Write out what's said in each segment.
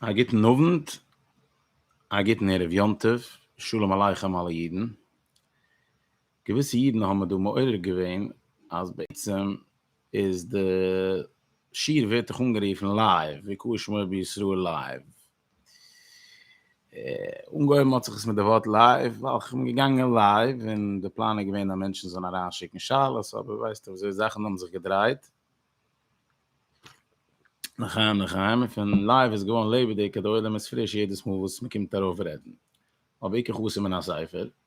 א גוטן אוונט, א גוטן ערב יום טוב, שלום עליכם אלע אידן. געוויסע אידן האבן מיר דא מעורר געווען אז בעצם איז די שיעור ווערט דאך אנגערופן לייוו, ויקהל שמו בישראל לייוו, אנגעהויבן האט זיך עס מיט די ווארט לייוו, ווייל איך בין געגאנגען לייוו, און די פלאן איז געווען אז מענטשן זאלן אריין שיקן שאלות, אבער ווייסטו וויאזוי זאכן האבן זיך געדרייט, לחיים לחיים, און פון לייוו איז געווארן לעבעדיג, די עולם איז פריש יעדעס מאל וואס מען קומט ארויף רעדן, אויף בעיקר חתן מן הספר.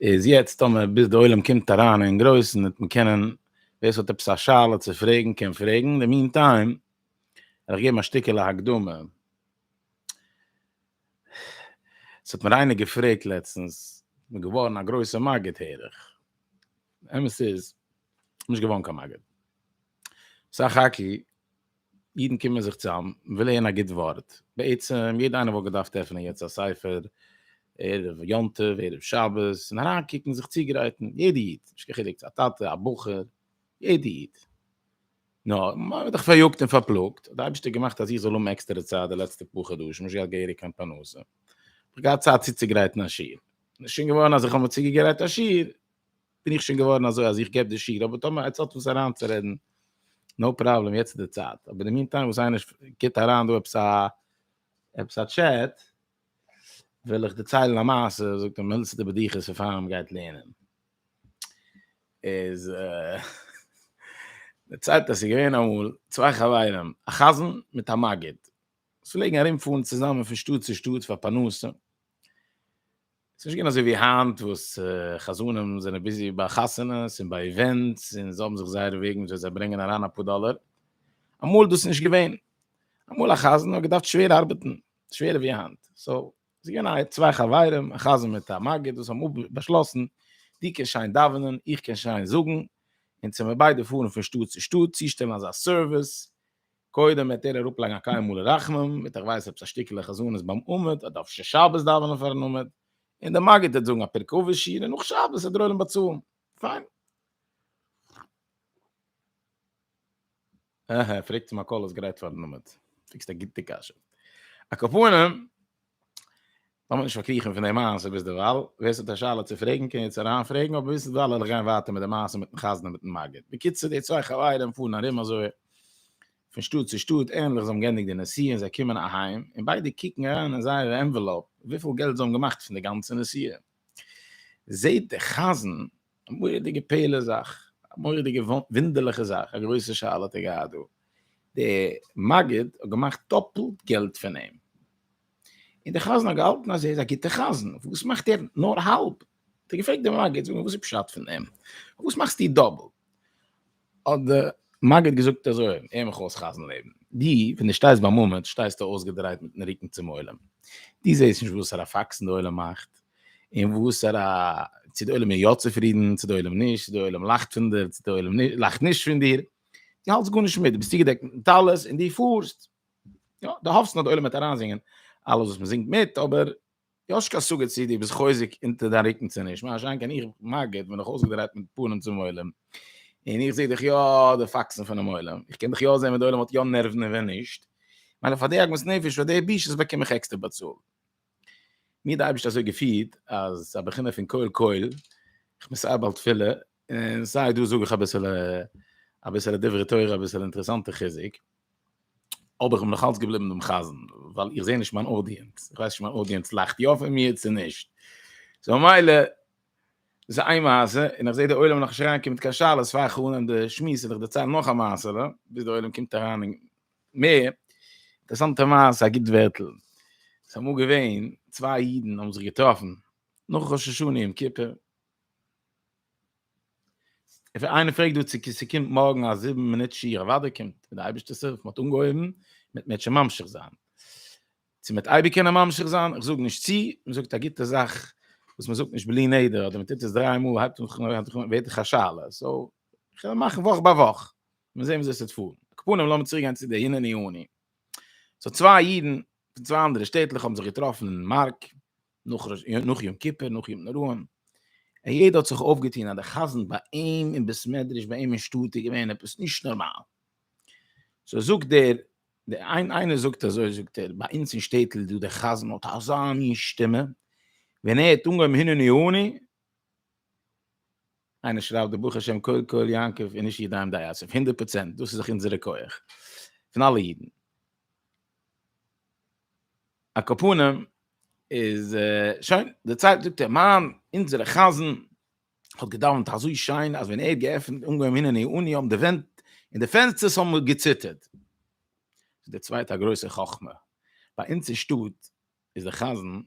איז יעצט טאמער ביז די עולם קומט אריין אין גרויסן וועט מען קענען ווער ס'האט עפעס א שאלה צו פרעגן קען פרעגן, אין די מין טיים וועל איך געבן א שטיקעלע הקדמה. ס'האט מיר איינער געפרעגט לעצטנס, כ'בין געווארן א גרויסע מגיד הער איך, אמת איז כ'בין נישט געווארן קיין מגיד, סך הכל אידן קומען זיך צוזאם, מען וויל הערן א גוט ווארט, בעצם יעדער איינער וואלט געדארפט עפענען יעצט א ספר, ערב יום טוב, ערב שבת, און אריינקוקן, זיך צוגרייטן, יעדער איד, נישט קיין חילוק צו א טאטע, א בחור, יעדער איד. נאר, מען ווערט דאך פאריאגט און פארפלאגט, האט די אייבערשטער געמאכט אז איך זאל האבן עקסטערע צייט די לעצטע פאר חדשים, נישט געהאט געהעריג קיין פרנסה, האב איך געהאט צייט צוצוגרייטן א שיעור, און עס איז שוין געווארן אז איך האב מיר צוגעגרייט א שיעור, בין איך שוין געווארן אזוי אז איך געב די שיעור, אבער טאמער עטס האט וואס אריינצורעדן, נאו פראבלעם, יעצט איז די צייט, אבער אין די מינטיים וואס איינער גיבט אריין דא עפעס א עפעס א טשעט, וויל איך דערציילן א מעשה, זאגט די מילדסטע בדיחות פון פאר מען גייט לערנען, איז דערציילט אז ס'איז געווען אמאל צוויי חברים, א חזן מיט א מגיד, וואס פלעגן ארומפארן צוזאמען פון שטאט צו שטאט פאר פרנסה, ס'איז נישט געווען אזוי ווי היינט וואס חזנים זענען ביזי ביי חתונות און ביי איווענטס און זיי האבן זיך זייערע וועגן וויאזוי זיי ברענגען אריין אפאר דאלער. אמאל איז דאס נישט געווען. אמאל א חזן האט געדארפט שווער ארבעטן, שווערער ווי היינט. סאו, ס'איז געווען א צוויי חברים, א חזן מיט א מגיד, וואס האבן באשלאסן, דו קענסט שיין דאווענען, איך קען שיין זאגן, און צו מיר ביידע פארן פון שטאט צו שטאט, צושטעלן אזא סערוויס, קודם וועט ער אראפלייגן א קיימא לרחמם, וועט ער ווייזן עפעס א שטיקעלע חזנות ביים עמוד, אדער אפשר שבת דאווענען פארן עמוד, און דער מגיד וועט זאגן א פרק אבות שיעור און נאך שבת וועט דער עולם באצאלן. פיין. אהה, פרעגט צו מקהל איז גרייט פארן עמוד. פרעגסט א גוטע קשיא. א כפרה, לאמיר נישט פארקריכן פון די מעשה ביזדערווייל, ווער ס'האט א שאלה צו פרעגן קען יעצט אריינפרעגן, אבער ביזדערווייל וועל איך גיין ווייטער מיט די מעשה מיטן חזן און מיטן מגיד. בקיצור, די צוויי חברים פארן ארום אזוי פון שטאט צו שטאט, ענדליך זיי האבן געענדיגט די נסיעה און זיי קומען אהיים, און ביידע קוקן אריין אין זייערע ענוועלאופ וויפיל געלט זיי האבן געמאכט פון די גאנצע נסיעה, זעט דער חזן א מורא'דיגע פלא זאך, א מורא'דיגע וואונדערליכע זאך, א גרויסע שאלה האט ער געהאט דא, דער מגיד האט געמאכט דאפלט געלט פון אים. און דער חזן האט געהאלטן אז ער איז א גוטער חזן, וואס מאכט ער נאר האלב? האט ער געפרעגט דעם מגיד, זאג נאר וואס איז פשט פון אים? וואס מאכסטו דאבל? האט דער מגיד געזאגט אזוי, הער מיך אויס חזן לעבן, דו ווען דו שטייסט ביים עמוד שטייסטו אויסגעדרייט מיטן רוקן צום עולם, דו זעסט נישט וואסארא פאקסן דער עולם מאכט, און וואסארא, צו דער עולם איז יא צופרידן, צו דער עולם נישט, צו דער עולם לאכט פון דיר, צו דער עולם לאכט נישט פון דיר, דו האלטסט גארנישט מיט, דו ביסט צוגעדעקט מיטן טלית און דו פארסט, יא, די האפסט נאר די עולם וועט אריינזינגען אלעס וואס מ'זינגט מיט, אבער יאשקע א סוגיא צי דו ביסט חוזק אונטער דיין רוקן צו נישט, מה שאין כן איך מגיד בין איך אויסגעדרייט מיט פנים צום עולם, און איך זע דיך יא די פאקסן פונעם עולם, איך קען דיך יא זען ווען די עולם האט יא נערוון און ווען נישט, מילא פאר די עגמת נפש, פאר די בושות באקום איך עקסטער באצאלט. מיר האט די אייבערשטער אזוי געפירט אז א בחינה פון קול קול, איך בין סיי בעל תפילה און סיי דא זאג איך אביסעלע אביסעלע דברי תורה אביסעלע אינטערעסאנטע חיזוק, אבער איך בין נאך אלץ געבליבן דעם חזן, ווייל איך זע נישט מיין אודיענץ, איך ווייס נישט מיין אודיענץ לאכט יא פון מיר צו נישט, סאו מילא, דאס איז איין מעשה, און איך זע די עולם נאכנישט אריינקומען מיט קיין שאלות, פאר איך אנהייב די שמועס און איך דערצייל נאך א מעשה'לע, ביז די עולם קומט אריין און מ, אינטערעסאנטע מעשה, א גוט ווערטל. ס'איז אמאל געווען, צוויי אידן האבן זיך געטראפן נאך ראש השנה יום כיפור. איינער פרעגט דא צו ס'קומט מארגן א זיבן מינוט שיעור, אוודאי קומט, מיט די אייבערשטע'ס הילף, מ'האט אנגעהויבן, מ'וועט מער נישט ממשיך זיין. צו מ'וועט אייביג קענען ממשיך זיין, איך זאג נישט צו, מ'זאגט א גוטע זאך וואס מ'זאגט נישט בלי נדר, אדער מ'טוט עס דריי מאל, הייבט אן, ווערט דאך א שאלה, סאו, כ'וועל מאכן וואך ביי וואך. מיר זעהן וויאזוי עס וועט פארן. קאפנים לאמיר צוריק גיין צו די הנני אני. סאו צוויי אידן פון צוויי אנדערע שטעטלעך האבן זיך געטראפן אין מארק נאך יום כיפור נאך יום נוראים און יעדער האט זיך אויפגעטון אז די חזן ביי אים אין בית מדרש ביי אים אין שטאט איז געווען עפעס נישט נארמאל. סאו זאגט דער דער איין איינער זאגט אזוי זאגט ער ביי אונז אין שטעטל איז דא דער חזן האט אזא מין שטימע ווען ער האט אנגעהויבן הנני אני איינער שרייבט די בוכער שם קול קול יעקב איז נישט ידיים די אסף הונדערט פראצענט דאס איז דאך אונזערע כח פון אלע אידן. על כל פנים איז שוין די צייט זאגט ער מיין אונזערע חזן האט געדאווענט אזוי שיין אז ווען ער האט געעפנט אנגעהויבן הנני אני האבן די ווענט און די פענסטערס האבן געציטערט. די צווייטע גרויסע חכמה ביי אונז אין שטאט איז דער חזן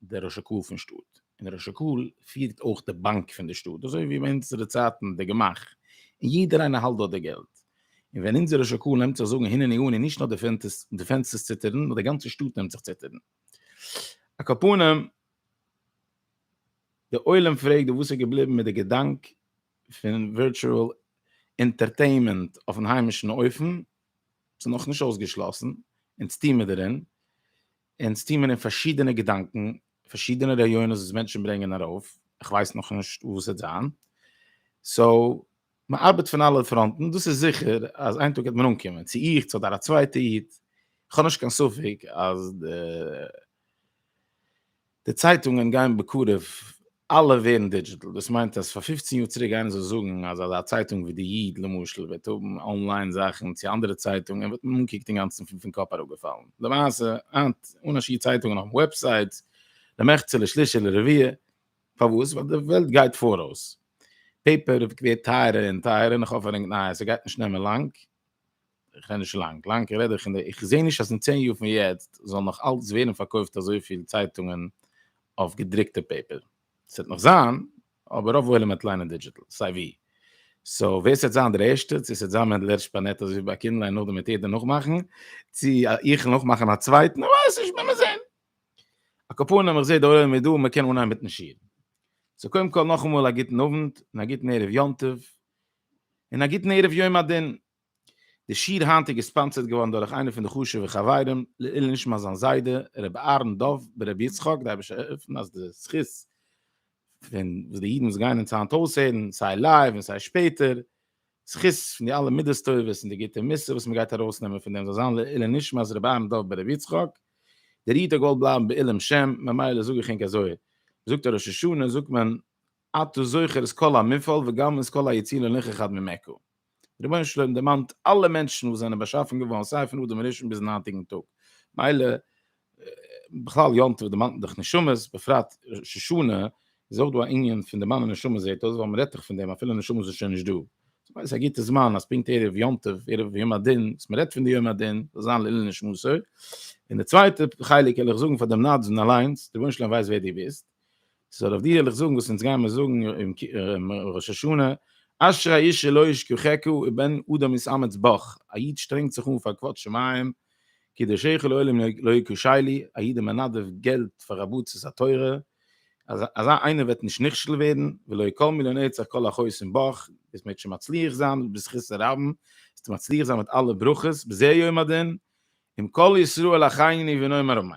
דער ראש הקהל פון שטאט, און דער ראש הקהל פירט אויך די באנק פון די שטאט, אזוי ווי ביי אונזערע צייטן די גמח, און יעדער איינער האלט דארט די געלט. און ווען אונזער ראש הקהל נעמט זיך זאגן הנני אני נישט נאר די פענסטערס ציטערן נאר די גאנצע שטאט נעמט זיך ציטערן. על כל פנים, די עולם פרעגט דא וואס איז געבליבן מיט די געדאנק פון ווירטשועל אינטערטעינמענט אויפן היימישן אופן, ס'איז נאך נישט אויסגעשלאסן, אונז טוהן מיר דערין, אונז טוהן מיר אין פארשידענע געדאנקען, פארשידענע רעיונות וואס מענטשן ברענגען ארויף, איך ווייס נאך נישט וואס ס'וועט זיין, סאו מען ארבעט פון אלע פראנטן, דאס איז זיכער אז איין טאג וועט מען אנקומען, צו איך צו אדער א צווייטע איד, איך האב נישט קיין ספק אז די די צייטונגען גייען בקרוב אלע ווערן דידזשיטעל, דאס מיינט אז פאר פופצן יאר צוריק איינער זאל זאגן אז אזא צייטונג ווי די איד למשל וועט האבן אנליין זאכן צו אנדערע צייטונגען וואלט מען אנגעקוקט אינגאנצן פון קאפ אראפגעפאלן, למעשה היינט אן א שיעור צייטונגען אויפן וועבסייט למחצה לשליש לרביע, פארוואס? ווייל די וועלט גייט פאראויס, פעיפער ווערט טייערער און טייערער נאך אויפהערונג נייעס, ס'גייט נישט נעמען לאנג. איך רעד נישט לאנג, לאנג איך רעד איך אין די, איך זעה נישט אז אין צען יאר פון יעצט זאל נאך אלץ ווערן פארקויפט אזויפיל צייטונגען אויף געדרוקטע פעיפער. עס וועט נאך זיין, אבער רוב עולם וועט ליינען דידזשיטעל, סיי ווי. סאו ווער עס וועט זיין דער ערשטער, צו עס וועט זיין מענדל הערש פארנעט אזויווי ביי קינדליין און נאכדעם וועט יעדער נאכמאכן, צו איך וועל נאכמאכן א צווייטן, איך ווייס נישט, מיר זען. א קאפאנעם איך זעה דער עולם איז דא, מען קען אנהייבן מיטן שיעור. סאו קודם כל נאכאמאל א גוטן אוונט, און א גוטן ערב יום טוב, און א גוטן ערב יום הדין. די שיעור היינט איז געספאנסערט געווארן דורך איינע פון די חשובע חברים, לעיל נשמת זיין זיידע ר' אהרן דוב ב ר יצחק, די אייבערשטער עפן אז די זכות פון וואס די אידן וואס גייען אונז היינט אויסהערן, סיי לייוו און סיי שפעטער, זכות פון די אלע מידות טובות און די גוטע מוסר וואס מען גייט ארויסנעמען פון דעם זאל זיין לעיל נשמת ר' אהרן דוב ב ר יצחק, דער איד האט געוואלט בלייבן בעילום שם, ממילא זאג איך ענק אזוי, מ'זאגט א ראש השנה זאגט מען אתה זוכר את כל המפעל וגם את כל היצירה לנכר חד ממעכו. רבונו של עולם דערמאנט אלע מענטשן וואס זענען באשאפן געווארן סיי פון אדם הראשון ביזן היינטיגן טאג, מילא בכלל יום טוב דערמאנט מען דאך נשמות, בפרט ראש השנה איז אויך דא א ענין פון דערמאנען נשמות זעהט אויס ווייל מען רעדט דאך פון דעם אפילו נשמות איז שוין נישט דא, ס'איז אויס א גוטע זמן אז פונקט ערב יום טוב ערב יום הדין וואס מען רעדט פון די יום הדין זאל זיין לעילוי נשמתו, און די צווייטע חלק וועל איך זאגן פאר דעם נדבן אליינס, רבונו של עולם ווייסט ווער דו ביסט. סאו אויף די וועל איך זאגן וואס אונז גיימער זאגן אום ראש השנה, אשרי האיש שלא ישכחך ובן אדם יתאמץ בך, א איד שטרענגט זיך אן פאר כבוד שמים, קידושיך לעולם לא יקושי לי, א איד איז מנדב געלט פאר עבודת התורה, אז אזא איינער וועט נישט נכשל ווערן, ולא יקל מיליון עצה כל החוסם בך, ביסט מעגסט שוין מצליח זיין בזכות הרבים, וועסטו מצליח זיין מיט אלע ברכות, בזה יום הדין, עם כל ישראל אחיני ונאמר אמן.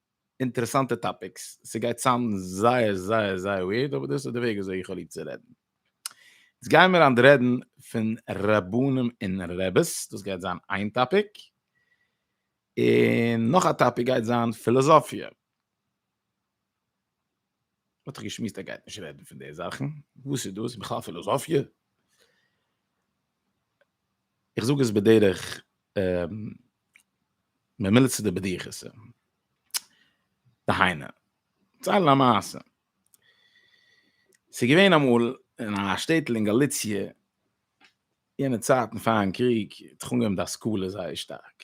אינטערעסאנטע טאפיקס, ס'גייט צאם זייער זייער זייער ווירד אבער דאס איז די וועג וויאזוי איך האב ליב צו רעדן. יעצט גיימער היינט רעדן פון רבנים און רעבעס, דאס גייט זיין איין טאפיק, און נאך א טאפיק גייט זיין פילאזאפיע. האט ער געשמועסט ער גייט נישט רעדן פון די זאכן, וואס איז דאס בכלל פילאזאפיע? איך זאג עס בדרך ממילצע די בדיחת דהיינה, צייל א מעשה, ס'געווען אמאל אין א שטעטל אין גאליציע, יענע צייטן פארן קריג האט זיך אנגעהויבן די השכלה זייער שטארק,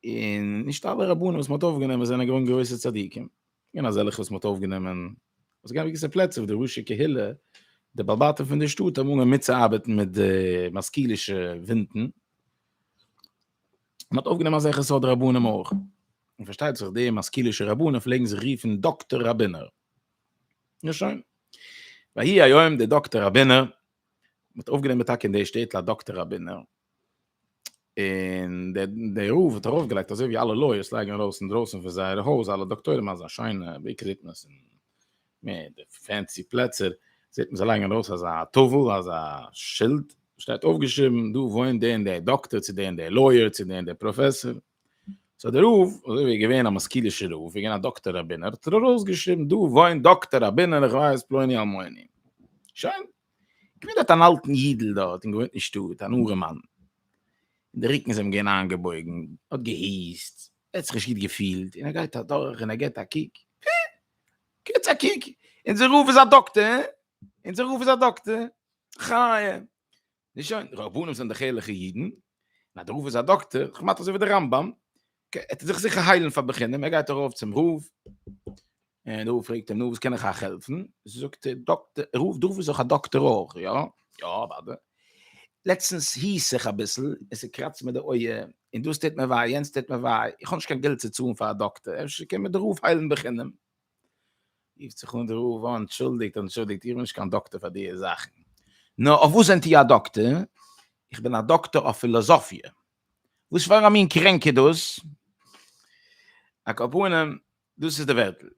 און נישט אלע רבנים וואס מען האט אויפגענומען זענען געווען גרויסע צדיקים, געווען אזעלכע וואס מען האט אויפגענומען וואס געווען געוויסע פלעצער וואו די ראשי קהילה, די בעל בתים פון די שטאט האבן אנגעהויבן מיטצואארבעטן מיט די משכילישע ווינטן, מען האט אויפגענומען אזעלכע סארט רבנים אויך, און פארשטייט זיך די משכילישע רבנים פלעגן זיך רופן דאקטער ראבינער. נו שוין. ויהי היום די דאקטער ראבינער, מען האט אויפגענומען טאקע אין די שטעטל א דאקטער ראבינער, און דער רב האט ארויפגעלייגט אזוי ווי אלע לויערס לייגן ארויס אינדרויסן פון זייערע הויז אלע דאקטוירים אזא שיינע בעיקר זעט מען עס אין מער די פענסי פלעצער זעט מען זיי לייגן ארויס אזא טאוול אזא שילד וואס שטייט אויפגעשריבן דא וואוינט דער און דער דאקטער צו דער און דער לויער צו דער און דער פראפעסאר סאו דער רב אזוי ווי ער איז געווען א משכילישער רב ווי געווען א דאקטער ראבינער האט ער ארויסגעשריבן דא וואוינט דאקטער ראבינער איך ווייס פלוני אלמוני שוין געווען דארט אן אלטן אידל דארט און געוואוינט אין שטאט, אן ארעמאן. און די רוקן איז אים געווען איינגעבויגן, האט געהוסט, ער האט זיך נישט גוט געפילט, און ער גייט אדורך און ער גיט א קוק, אה! גיטס א קוק, אונזער רב איז א דאקטער, אה! אונזער רב איז א דאקטער, חיה! נישט שוין, רבנים זענען דאך ערליכע אידן, און אז דער רב איז א דאקטער, כמעט אזוי ווי דער רמב ם, אקעי, ער וועט זיך זיכער היילן פאר בחינם, ער גייט ארויף צום רב, און דער רב פרעגט אים, נו, וואס קען איך אייך העלפן? זאגט דער דאקטער, ער רופט דורך וואס אויך א דאקטער אויך, יא? יא, אוודאי. לעצטנס היס איך אביסל, און ס'קראצט מיר די אויער, און דאס טוט מיר וויי, יענץ טוט מיר וויי, איך האב נישט קיין געלט צו צאלן פאר א דאקטער, אפשר קען מיר דער רב היילן בחינם? רופט זיך אן דער רב, אה, אנטשולדיגט, אנטשולדיגט, איך בין נישט קיין דאקטער פאר דיע זאכן. נו, אויף וואס זענט איר א דאקטער? איך בין א דאקטער אויף פילאזאפיע. וואס פאר א מין קרענק איז דאס? א קאפונעם, דאס איז די ווערטל.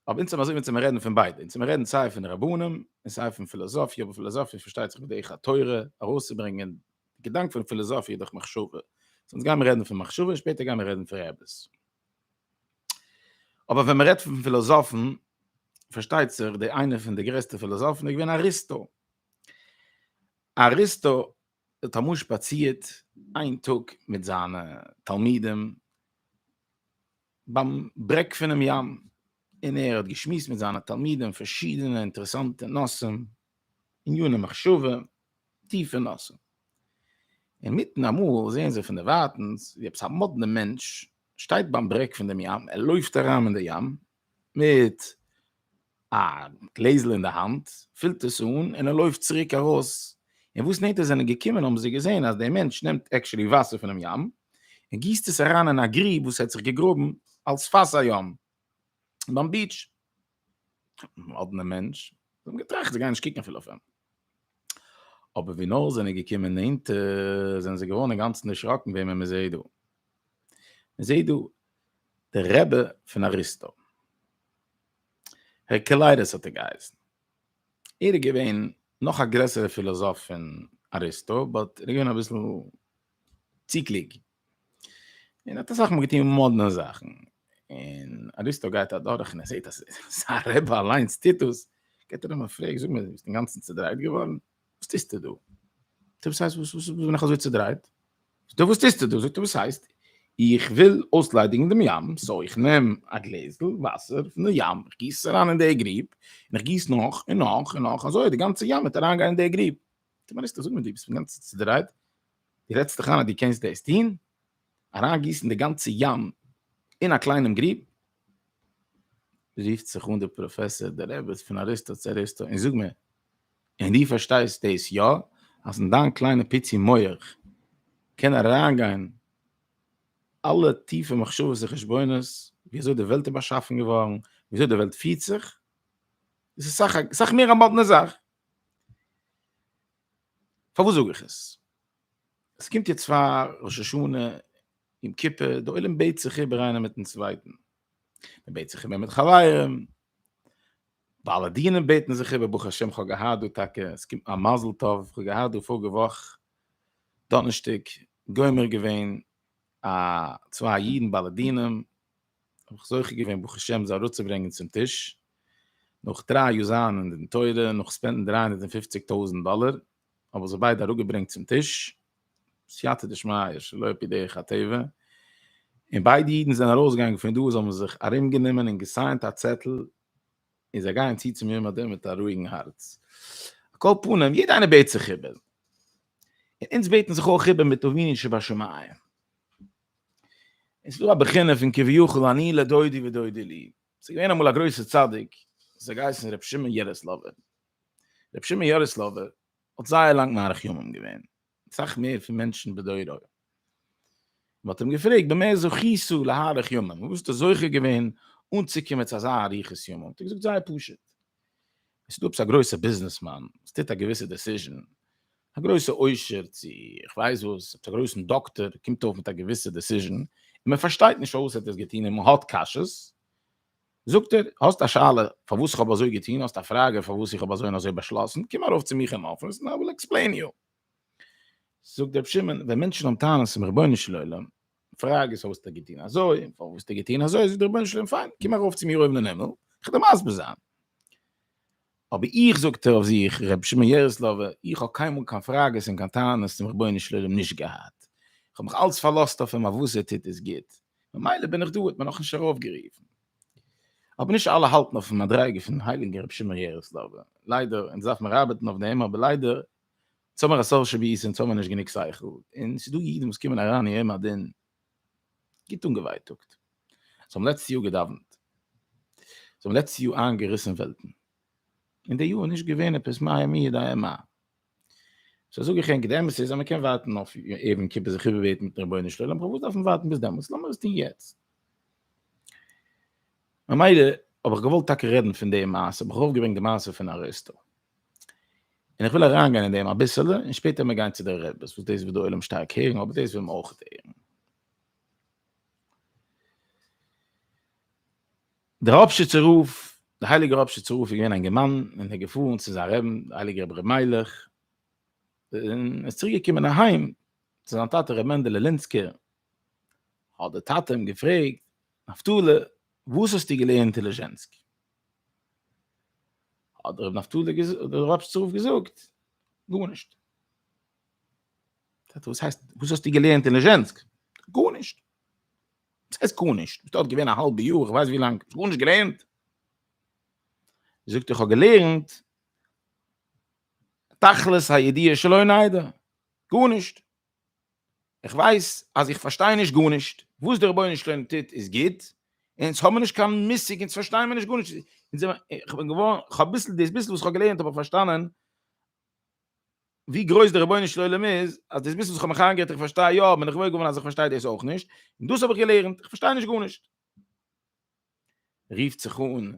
אבער אונז האבן אזוי ווי צו מיר רעדן פון ביידע. אונז האבן רעדן סיי פון רבנים, און סיי פון פילאזאפיע, אבער פילאזאפיע פארשטייט זיך בדרך התורה, ארויסצוברענגען די געדאנק פון פילאזאפיע דורך מחשבה. סאו אונז גייען מיר רעדן פון מחשבה, און שפעטער גייען מיר רעדן פון רעבעס. אבער ווען מען רעדט פון פילאזאפן, פארשטייט זיך די איינע פון די גרעסטע פילאזאפן איז געווען אריסטו. אריסטו האט אמאל שפאצירט איין טאג מיט זיינע תלמידים ביים ברעג פונעם ים, און ער האט געשמועסט מיט זיינע תלמידים פארשידענע אינטערעסאנטע נושאים, ענייני מחשבה, טיפע נושאים. אינמיטן אמאל זעען זיי פונדערווייטנס ווי עפעס א מאדנע מענטש שטייט ביים ברעג פון דעם ים, ער לויפט אריין אין די ים, מיט א גלעזל אין די האנט, פילט עס אן און ער לויפט צוריק ארויס, און וואס נענטער זיי זענען געקומען האבן זיי געזען אז דער מענטש נעמט עקשולי וואסער פונעם ים און גיסט עס אריין אין א גריב וואס ער האט זיך געגראבן על שפת הים ביים ביעטש. א מאדנע מענטש, זיי האבן געטראכט זיי גייען נישט קוקן אפילו אויף אים. אבער ווי נאר זענען געקומען נענטער זענען זיי געווארן אינגאנצן דערשראקן וועמען מען זעט דא. מען זעט דא דער רבי פון אריסטו. הערקעליידעס האט ער געהייסן. ער איז געווען נאך א גרעסערע פילאזאף פון אריסטו, באט ער איז געווען אביסל צו קלוג. און האט אסאך מאל געטון מאדנע זאכן, און אריסטו גייט אדורך און ער זעט אז זיין רבי אליינס טוט דאס, געט ער אים א פרעג, זאג מיר, ביסט אינגאנצן צעדרייט געווארן? וואס טוסטו דא? זאגט ער, וואס הייסט, וואס בין איך אזוי צעדרייט? זאגט ער, וואס טוסטו דא? זאגט ער, וואס הייסט, איך וויל אויסליידיגן דעם ים, סאו איך נעם א גלעזל וואסער פון די ים, איך גיס עס אריין אין די גריב, און איך גיס נאך און נאך און נאך, אזוי וועט די גאנצע ים וועט אריינגיין אין די גריב. די מיינסט אז אויב די ביסט גאנץ צודרייט די רעדסט דיך איין אז די קענסט דאס טון אריינגיסן די גאנצע ים אין א קליינעם גריב רופט זיך אן דער פראפעסאר דער רבי פון אריסטו צו אריסטו און זאג מיר און דו פארשטייסט דאס יא אז אין דיין קליינע פיצי מח קען אריינגיין אלע טיפע מחשבות און חשבונות ווי אזוי די וועלט איז באשאפן געווארן ווי אזוי די וועלט פירט זיך דאס איז סאך מער א מאדנע זאך פארוואס זאג איך עס? עס קומט יעצט פאר ראש השנה, יום כיפור, דער עולם בעט זיך איבער איינער מיט'ן צווייטן, מען בעט זיך איבער מיט חברים, בעלי דינים בעטן זיך איבער, ברוך השם כ'האב געהאט דא טאקע, עס קומט מיין מזל טוב, כ'האב געהאט דא פאריגע וואך דאנערשטאג גומר געווען א צוויי אידן בעלי דינים, האב איך זוכה געווען ברוך השם זיי אראפצוברענגען צום טיש, נאך דריי יאר זיין אין די תורה, נאך ספענדן דרײַ הונדערט און פֿופֿציק טויזנט דאלער, האב איך זיי ביידע אראפגעברענגט צום טיש, סייעתא דשמיא, שלא על פי דרך הטבע, און ביידע אידן זענען ארויסגעגאנגען פון דא, זיי האבן זיך ארומגענומען און געסיינט א צעטל, און זיי גייען צו צום יום הדין מיט א רואיגן הארץ. על כל פנים, יעדער איינער בעט זיך איבער, און אונז בעטן זיך אויך איבער מיט אבינו שבשמים. עס איז דא א בחינה פון כביכול אני לדודי ודודי לי, עס איז געווען אמאל א גרויסער צדיק וואס האט געהייסן ר' שמעון יערעסלאווער, ר' שמעון יערעסלאווער האט זייער לאנג מאריך ימים געווען, אסאך מער פון מענטשן בדורו, מען האט אים געפרעגט במה זכית להאריך ימים, וואו ביסטו זוכה געווען אנצוקומען צו אזא אריכות ימים, האט ער געזאגט זייער פשוט, עס איז דא עפעס א גרויסע ביזנעס מאן וואס טוט א געוויסע דעסיזשען, א גרויסע עושר צו איך ווייס וואס, עפעס א גרויסן דאקטאר קומט אויף מיט א געוויסע דעסיזשען, און מען פארשטייט נישט פארוואס ער האט עס געטון און מען האט קשיות, זאגט ער, האסט א שאלה פארוואס איך האב אזוי געטון, האסט א פראגע פארוואס איך האב אזוי און אזוי באשלאסן, קום ארויף צו מיך אין אפיס און איי וויל עקספלעין יו. זאגט ר' שמעון, ווען מענטשן האבן טענות צום רבונו של עולם, פראגע איז האסטו געטון אזוי, פארוואס האסטו געטון אזוי, זאגט דער רבונו של עולם פיין, קום ארויף צו מיר אויבן אין הימל, איך וועל דיר מסביר זיין. אבער איך זאגט ער אויף זיך, ר' שמעון יערעסלאווער, איך האב קיינמאל קיין פראגעס און קיין טענות צום רבונו של עולם נישט געהאט, איך האב מיך אלץ פארלאזט אויף אים אויף וואס ער טוט איז גוט, ממילא בין איך דא, האט מען נאכנישט ארויפגערופן. אבער נישט אלע האלטן אויפן מדריגה פון הייליגן ר' שמעון יערעסלאווער, ליידער, אונז דארף מיר ארבעטן אויף דעם, אבער ליידער אונז האמער א סארט שביעית אונז האמער נישט גענוג שכל, און ס'איז דא אידן וואס קומען אריין יום הדין גוט אנגעווייטאגט, זיי האבן לעצטע יאר געדאווענט, זיי האבן לעצטע יאר איינגעריסן וועלטן, און די יאר איז נישט געווען עפעס מאי עמי יודעי מה, סא זאג איך ענק די אמת איז אז מ'קען ווארטן אויף יום כיפור זיך איבערבעטן מיטן רבונו של עולם, פארוואס דארף מען ווארטן ביז דעמאלטס, לאמיר עס טון יעצט. ממילא האב איך געוואלט טאקע רעדן פון די מעשה, האב איך ארויפגעברענגט די מעשה פון אריסטו, און איך וויל אריינגיין אין דעם אביסעלע, און שפעטער מיר גיין צו די רעבעס, וואס דאס וועט די עולם שטארק הערן, אבער דאס וויל מען אויך הערן. דער ראפשיצער רב, דער הייליגער ראפשיצער רב איז געווען א געמאן, און ער איז געפארן צו זיין רעבן, דער הייליגער רבי ר' מיילעך, און ער איז צוריק געקומען אהיים, צו זיין טאטע רבי מענדעלע לינסקער, האט דער טאטע אים געפרעגט, נפתלי, וואס האסטו געלערנט אין ליזשענסק? האט דער רבי נפתלי געזאגט, דער רב שרף געזאגט, גארנישט. טאטע וואס הייסט, וואס האסטו געלערנט אין ליזשענסק? גארנישט. וואס הייסט גארנישט? ביסט דארט געווען א האלבע יאר, איך ווייס ווי לאנג, האסט גארנישט געלערנט? זאגט ער, איך האב געלערנט תכלית הידיעה שלא נדע, גארנישט. איך ווייס אז איך פארשטיי נישט גארנישט, וואס דער רבונו של עולם טוט איז גוט, און אונז האבן נישט קיין מושג, אונז פארשטייען מיר נישט גארנישט, איך בין געווארן, איך האב ביסל, דאס ביסל וואס איך האב געלערנט האב איך פארשטאנען ווי גרויס דער רבונו של עולם איז, אז דאס ביסל וואס איך האב מיך איינגערעדט איך פארשטיי יא, בין איך וואויר געווארן אז איך פארשטיי דאס אויך נישט, און דאס האב איך געלערנט, איך פארשטיי נישט גארנישט. רופט זיך אן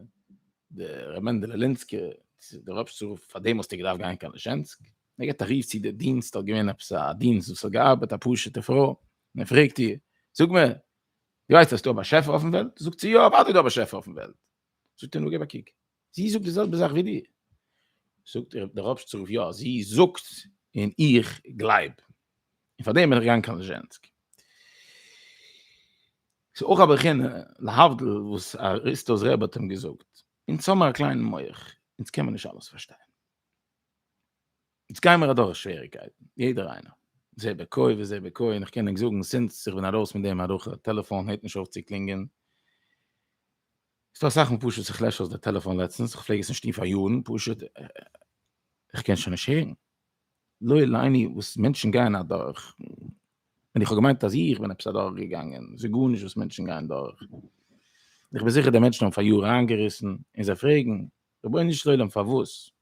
די ר' מענדעלע לינסקער צו די רבש צ רוף פאר דעם האסטו געדארפט גיין קיין לישענסק? ער גיבט א רוף צו די דינסט האט געווען עפעס א דינסט וואס האט געארבעט א פשוטע פרוי און ער פרעגט איר זאג מיר די ווייסט אז ס'דא א באשעפער אויפן וועלט? זאגט זי יא אוודאי איז דא א באשעפער אויפן וועלט זאגט ער נו געב א קוק, זי זאגט די זעלבע זאך ווי דיר. זאגט איר דער רבש צ רב יא זי זאגט און איך גלייב, און פאר דעם בין איך געגאנגען קיין ליזשענסק. ס'איז אויך א בחינה להבדיל וואס אריסטו'ס רבי האט אים געזאגט, אונז האבן א קליינעם מח, אונז קען מען נישט אלעס פארשטיין. איצט גייען מיר אדורך שוועריגקייטן, יעדער איינער. זה בקוי וזה בקוי, און איך קען ענק זאגן סינס איך בין ארויס פון די מערכה, טעלעפאון הערט נישט אויף צו קלינגען. ס'דא אסאך מאל פשוט איך לעש אויס די טעלעפאון לעצטנס, איך פלעג עס נישט טון פאר יארן, פשוט איך קען שוין נישט הערן. לא עליני וואס מענטשן גייען אדורך, און איך האב געמיינט אז איך בין עפעס אדורך געגאנגען, ס'איז גארנישט וואס מענטשן גייען דורך. איך בין זיכער די מענטשן האבן פאר יארן איינגעריסן, און זיי פרעגן, רבונו של עולם פארוואס?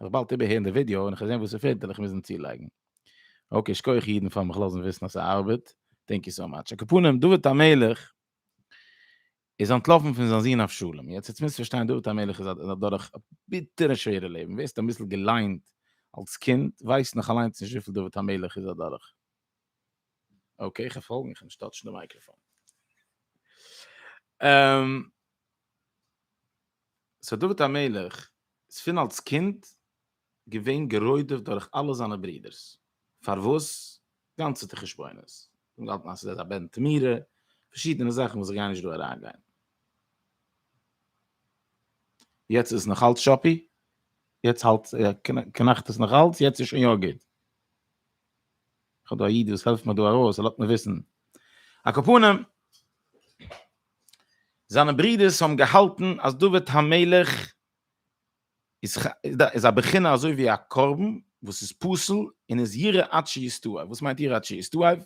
איך באלד איבערהערן די ווידיאו און איך זען וואס ס'פעלט וועל איך מוזן צולייגן. אקעי שכוח אידן פארן מיך לאזן וויסן אז ס'ארבעט. טענק יו סאו מאטש. הקופונים, דוד המלך איז אנטלאפן פון זיין זון אבשלום. יעצט יעצט מוזט פארשטיין דוד המלך איז איז אדורך א ביטערע שווערע לעבן. ווער ס'האט אביסל געליינט אלס קינד ווייסט נאך אליינס נישט וויפיל דוד המלך איז אדורך. אקעי איך קען פאלגן איך קען נישט טאטשן די מייקראפאן. סאו דוד המלך איז פון אלס קינד געווען גערוידעוועט דורך אלע זיינע ברודערס, פארוואס? גאנצעטע חשבונות, זיי האבן געהאלטן אז עס איז א בן תמורה, פארשידענע זאכן וואס איך גיי נישט דא אריינגיין. יעצט איז עס נאך אלץ שאפי? יעצט האלט קנאכט עס נאך אלץ? יעצט איז שוין יא גוט? איך האב דא א איד וואס העלפט מיר דא ארויס, ער לאזט מיר וויסן. א קאפאנעם! זיינע ברודערס האבן געהאלטן אז דוד המלך איז א בחינה אזוי ווי א קרבן וואס איז פסול און איז ירא עד שיסתעף, וואס מיינט ירא עד שיסתעף?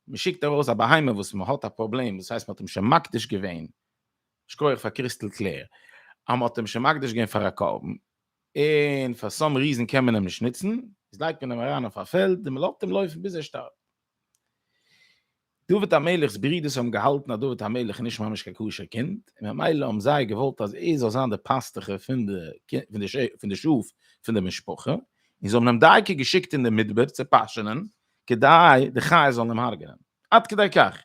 מען שיקט ארויס א בהמה וואס מען האט א פראבלעם, דאס הייסט מען האט אים שוין מקדיש געווען, שכוח פאר קריסטעל קלער, אז מען האט אים שוין מקדיש געווען פאר א קרבן, און פאר סאם ריזען קען מען אים נישט נוצן, איז לייגט מען אים אריין אויף א פעלד און מען לאזט אים לויפן ביז ער שטארבט. דוד המלך'ס ברודערס האבן געהאלטן אז דוד המלך איז נישט ממש קיין כשר קינד, און ממילא האבן זיי געוואלט אז ער זאל זיין דער פאסטעכער פון די פון די שאף פון די משפחה, און זיי האבן אים דייקא געשיקט אין די מדבר צו פאשענען, כדי די חיות זאלן אים הרג'נען. עד כדי כך!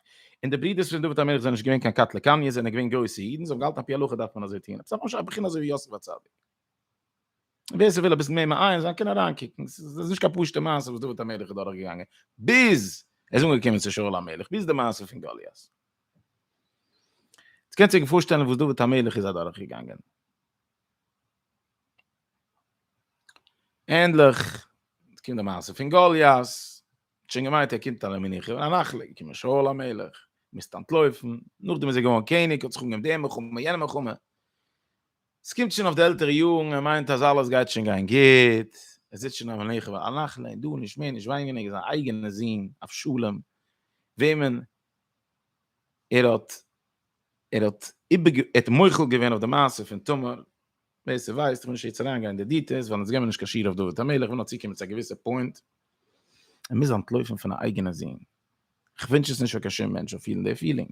און די ברודערס פון דוד המלך זענען נישט געווען קיין קטלא קניא, זיי זענען געווען גרויסע אידן, זיי האבן געהאלטן על פי הלכה דארף מען אזוי טון, עפעס ממש א בחינה אזוי ווי יוסף הצדיק. ווער ס'וויל אביסל מער מעיין זיין קען אריינקוקן, ס'איז נישט קיין פשוט'ע מעשה וואס דוד המלך איז דורכגעגאנגען, ביז ער איז אנגעקומען צו שאול המלך, ביז די מעשה פון גוליית. עטס קענטס אייך פארשטעלן וואס דוד המלך איז אדורכגעגאנגען. ענדליך קומט די מעשה פון גוליית, ער האט שוין געמיינט ער קומט אריין מנוחה און א נחלה, געקומען שאול המלך, מוזט אנטלויפן, נאכדעם איז ער געווארן קעניג, האט זיך אנגעהויבן די מלחמה, יענע מלחמה, ס'קומט שוין אויף די עלטערע יארן, ער מיינט אז אלעס גייט שוין גיין גוט, ער זיצט שוין אויף מנוחה ועל נחלה, און דא נישט מער נישט וויינגעניגער זיין אייגענע זון אבשלום, וועמען ער האט ער האט איבער ער האט מוחל געווען אויף די מעשה פון תמר, ווער ס'ווייסט, איך וויל נישט יעצט אריין גיין אין די דיטעלס, ווייל אונז גיימיר נישט קיין שיעור אויף דוד המלך, איך וויל נאר צוקומען צו א געוויסע פוינט, ער מוז אנטלויפן פון א אייגענע זון, איך ווינטש עס נישט פאר קיין שום מענטש זאל פילן די פילינג.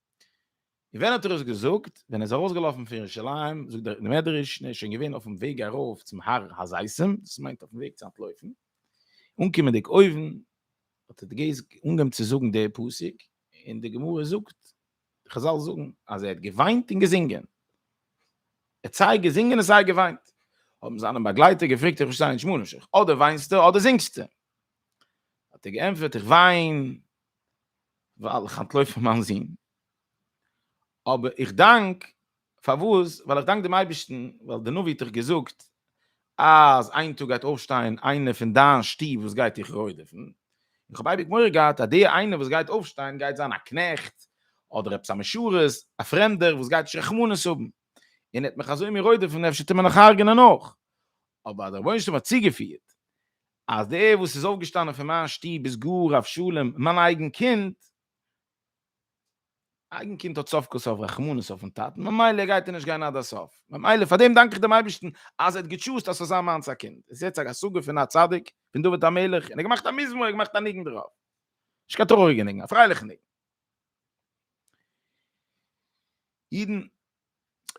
און ווען האט ער עס געזאגט? ווען ער איז ארויסגעלאפן פון ירושלים, זאגט דער מדרש, און ער איז שוין געווען אויפן וועג ארויף צום הר הזיתים, דאס מיינט אויפן וועג צו אנטלויפן, אנקומענדיג אויבן, האט ער געז אנגעהויבן צו זאגן די פסוק, און די גמרא זאגט, די חזל זאגן, אז ער האט געוויינט און געזינגען, ער האט סיי געזינגען און סיי געוויינט, האבן זיינע באגלייטער געפרעגט, איך פארשטיי נישט, מונשך, אדער וויינסטו אדער זינגסטו? האט ער געענטפערט, איך וויין, ווייל איך אנטלויף פון מיין זון, אבער איך דאנק, פארוואס? ווייל איך דאנק דעם אייבערשטן, ווייל דער נביא האט דאך געזאגט אז איין טאג גייט אויפשטיין איינער פון דיין שטוב וואס גייט דיך רודפ'ן, איך האב אייביג מורא געהאט אז דער איינער וואס גייט אויפשטיין גייט זיין א קנעכט, אדער עפעס א משרת, א פרעמדער וואס גייט נישט רחמנות האבן, און ער וועט מיך אזוי מיר רודפ'ן, אפשר טוט מען נאך הרג'נען אויך, אבער אז דער רבונו של עולם האט צוגעפירט אז דער וואס איז אויפגעשטאנען פון מיין שטוב איז גאר אבשלום, מיין אייגן קינד, א אייגן קינד האט סוף כל סוף רחמנות אויפן טאטן, ממילא גייט ער נישט גיין עד הסוף, ממילא פאר דעם דאנק איך דעם אייבערשטן אז ער האט געטשוזט אז ס'זאל זיין מיינס א קינד, עס איז יעצט א השגה פון א צדיק, פון דוד המלך, און ער האט געמאכט א מזמור, ער האט געמאכט א ניגון דערויף, נישט קיין טרויעריגע ניגון, א פרייליכע ניגון. אידן,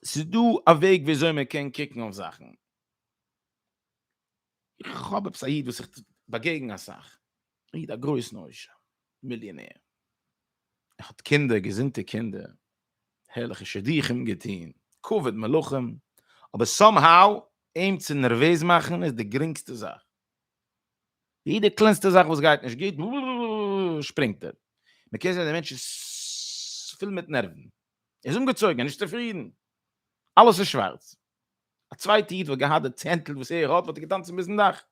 ס'איז דא א וועג ווי אזוי מען קען קוקן אויף זאכן. איך האב עפעס א איד וואס איך באגעגן אסאך, א איד א גרויסן עושר, מיליאנער, ער האט קינדער, געזונטע קינדער, הערליכע שידוכים געטון, כבוד מלכים, אבער סאם האו אים צו נערוועז מאכן איז די גרינגסטע זאך, יעדע קלענסטע זאך וואס גייט נישט גוט שפרינגט ער, מען קען זען די מענטש איז פול מיט נערוון, ער איז אנגעצויגן, ער איז נישט צופרידן, אלעס איז שווארץ. א צווייטע איד וואלט געהאט די צענטל וואס ער האט וואלט ער געטאנצן ביזן דאך,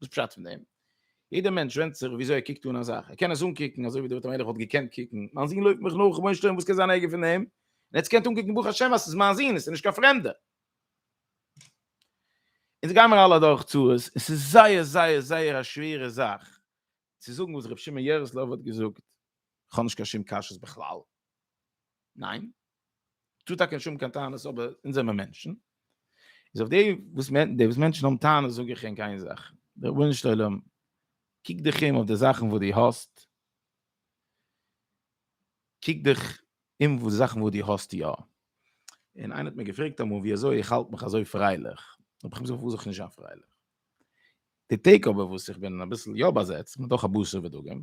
וואס פשט פון דעם? יעדער מענטש ווענדט זיך וויאזוי ער קוקט אן א זאך, ער קען עס אנקוקן אזוי ווי דוד המלך וואלט געקענט קוקן, מיין זון לויפט מיך נאך, רבונו של עולם וואס קען זיין ערגער פון דעם, און עטס קענט אנקוקן ברוך השם אז ס'איז מיין זון, עס איז נישט קיין פרעמדער. אונז גיימער אלע אדורך צרות, און ס'איז זייער זייער זייער א שווערע זאך צו זאגן וואס ר' שמעון יערעסלאוו האט געזאגט, כ'האב נישט קיין שום קשיות בכלל, ניין? טוט אַ קען שום קײן טענות, אָבער אונדז זעמער מענטשן. איז אױף די, װאָס מענ, די, װאָס מענטשן האָבן טענות, זאָג איך ענק אײן זאַך, רבונו-של-עולם, קוק דיך אום אױף די זאַכן, װאָס דו האָסט, קוק דיך אום אױף די זאַכן, װאָס דו האָסט יאָ. און אײנער האָט מיר געפֿרעגט אַמאָל, װי אַזױ איך האַלט מיך אַזױ פֿרײלעך? האָב איך אים געזאָגט, פֿאַר װאָס זאָל איך נישט זײַן פֿרײלעך? די טעג אבער וואס איך בין אביסל יא באזעצט מיט נאך א בשר ודגים,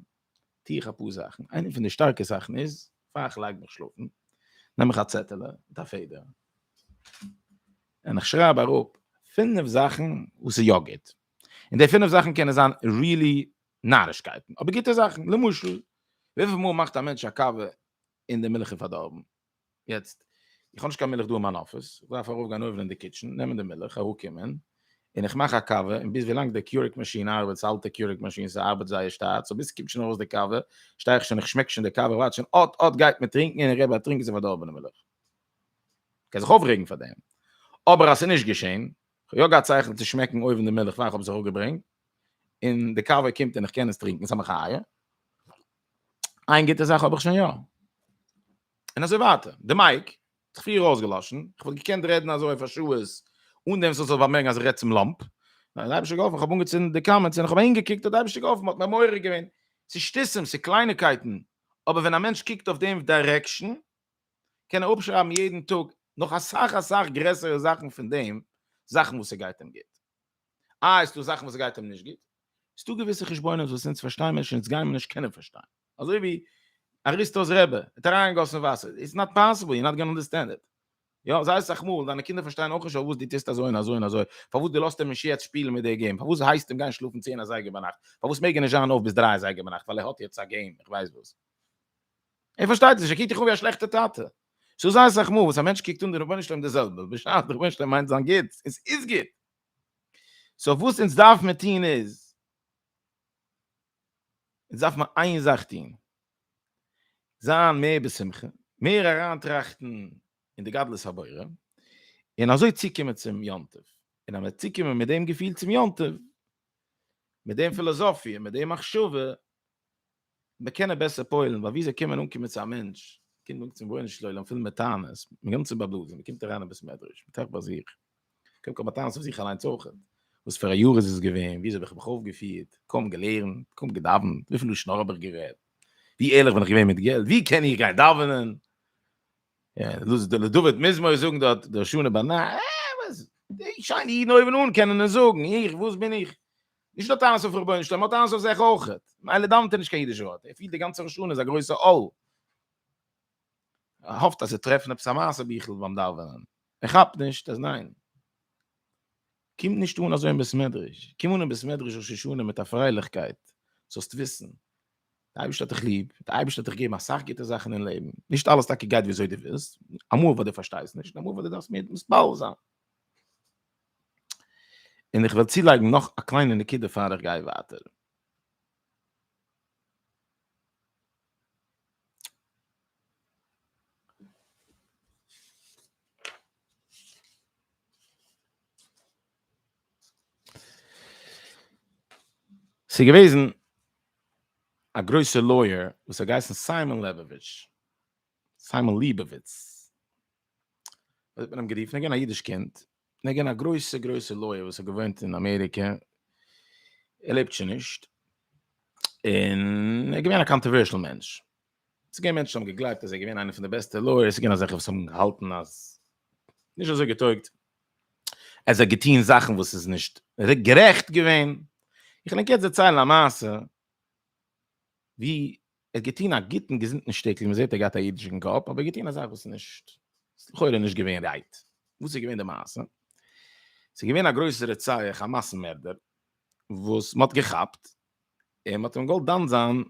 טו איך אפאר זאכן, איינע פון די שטארקע זאכן איז, פאר איך לייג מיך שלאפן, נעם איך א צעטעלע מיט א פעדער, און איך שרייב אראפ פינף זאכן וואס איז יא גוט, און די פינף זאכן קענען זיין ריעלי נארישקייטן, אבער גוטע זאכן, למשל, וויפיל מאל מאכט א מענטש א קאווע און די מילך איז פארדארבן? יעצט, איך האב נישט קיין מילך דא אין מיין אפיס, איך דארף ארויף גיין אויבן אין די קיטשען, נעמען די מילך, אראפקומען, און איך מאך א קאווע, און ביז ווילאנג די קיורעג מאשין ארבעט, ס'איז א אלטע קיורעג מאשין, ס'ארבעט זייער שטאט, סאו ביז ס'קומט שוין ארויס די קאווע, שטיי איך שוין, איך שמעק שוין די קאווע, איך ווארט שוין, אט אט גייט מען טרינקען, און איך גיי באטרינקען ס'איז פארדארבענע מילך. מ'קען זיך אויפרעגן פאר דעם, אבער אז ס'איז נישט געשען, איך האב יא געהאט שכל צו שמעקן אויבן די מילך פאר איך האב זיך אפגעברענגט, און די קאווע קומט און איך קען עס טרינקען, ס'איז א מחיה. איין גוטע זאך האב איך שוין יא. און אזוי ווייטער. די מייק, האט זיך פריער אויסגעלאשן, איך וואלט געקענט רעדן אזוי אויף א שעות, אן דעם ס'זאל זיך באמערקן אז איך רעד צום לאמפ. האט די אייבישטער געהאלפן, כ'האב אנגעצינדן די קאמענטס און כ'האב אהינגעקוקט, האט די אייבישטער געהאלפן, מ'האט מיר מעורר געווען. ס'איז שטותים, ס'איז קלייניקייטן, אבער ווען א מענטש קוקט אויף דעם דיירעקשאן, קען ער אפשרייבן יעדן טאג נאך אסאך אסאך גרעסערע זאכן פון דעם, זאכן וואס ס'גייט אים גוט. אה, ס'דא זאכן וואס גייט אים נישט גוט. ס'דא געוויסע חשבונות וואס אונז פארשטייען נישט, אונז גיימער נישט קענען פארשטיין. אזוי ווי אריסטו'ס רבי האט אריינגעגאסן וואסער. איטס נאט פאסיבל, יו נאט גאנא אנדערסטענד איט. יא, זייער סאך מאל, דיינע קינדער פארשטייען אויך נישט פארוואס דו טוסט אזוי און אזוי און אזוי. פארוואס דו לאזט אים נישט יעצט שפילן מיט די געים? פארוואס הייסט אים גיין שלאפן צען אזייגער ביינאכט? פארוואס מעג ער נישט זיין אויף ביז דריי אזייגער ביינאכט ווייל ער האט יעצט א געים? איך ווייס וואס. ער פארשטייט עס נישט, ער קוקט דיך אן ווי א שלעכטע טאטע. סאו זיי סאך מאל וואס א מענטש קוקט אן די רבונו של עולם די זעלבע, בשעת די רבונו של עולם מיינט זיין גוטס, און ס'איז גוט. סאו וואס אונז דארף מען טון איז, אונז דארף מען איין זאך טון, זיין מער בשמחה, מער אריין טראכטן אין די גדלות הבורא, און אזוי צוקומען צום יום טוב. און אז מיר צוקומען מיט דעם געפיל צום יום טוב, מיט דעם פילאזאפיע, מיט דעם מחשבה, מען קען ער בעסער פועל'ן, ווייל ווי זיי קומען אנקומען צו א מענטש, קומט אן צום רבונו של עולם פול מיט טענות, מיט גאנצע באבלס, מען קומט אריין אין בית מדרש, מען טראכט ביי זיך, קודם כל מיט טענות אויף זיך אליינס אויך, וואס פאר א יאר איז עס געווען, ווי אזוי האב איך מיך אויפגעפירט, קוים געלערנט, קוים געדאווענט, וויפיל לשון הרע האב איך גערעדט, ווי ערליך בין איך געווען מיט געלט, ווי קען איך גיין דאווענען, לדוד מזמור זאגן דארט דרשו נא בנא, אה, וואס, די שיינע אידן אויבן אן קענען עס זאגן, איך, וואס בין איך? נישט די טענות אויף רבונו שלום, טענות אויף זיך אויך. מילא דאווענט ער נישט קיין אידיש ווארט, ער פילט די גאנצע רשעות איז א גרויסע עול. ער האפט אז זיי טרעפן עפעס א מעשה ביכל ביים דאווענען, ער כאפט נישט אז ניין. קום נישט אן אזוי אין בית מדרש, קום אן אין בית מדרש ראש השנה מיט א פרייליכקייט, זאלסט וויסן די אייבערשטער האט דיך ליב, די אייבערשטער האט דיך געגעבן אסאך גוטע זאכן אין לעבן, נישט אלעס טאקע גייט וויאזוי דו ווילסט, אמאל וואס דו פארשטייסט נישט, אמאל וואס דו דארפסט מער מסביר זיין. און איך וועל צולייגן נאך א קליינע נקודה פאר איך גיי ווייטער. ס'איז געוועזן א גרויסער לויער וואס האט געהייסן סיימאן לעבאוויטש, סיימאן ליבאוויץ, האט מען אים גערופן אגען א אידיש קינד נגען א גרויסע גרויסע לויער וואס האט געוואוינט אין אמעריקע ער לעבט שוין נישט אין ער געווען א קאנטערווערשל מענטש עס געווען מענטשן האבן געגלייבט אז ער געווען איינער פון די בעסטע לויער עס געווען אזעלכע וואס האבן געהאלטן אז נישט אזוי געטויגט אז ער געטוהן זאכן וואס איז נישט גערעכט געווען איך נעם קעץ דערציילן א מעשה ווי ער האט געטון א גוטן געזונטן שטיקל, מען זעט ער געהאט א אידישן קאפ, אבער געטון א זאך וואס איז נישט, ס'איז לכאורה נישט געווען רייט. וואס איז געווען די מעשה? ס'איז געווען א גרויסער רוצח, א מאסן מערדער, וואס מ'האט געכאפט, און מ'האט אים געוואלט דן זיין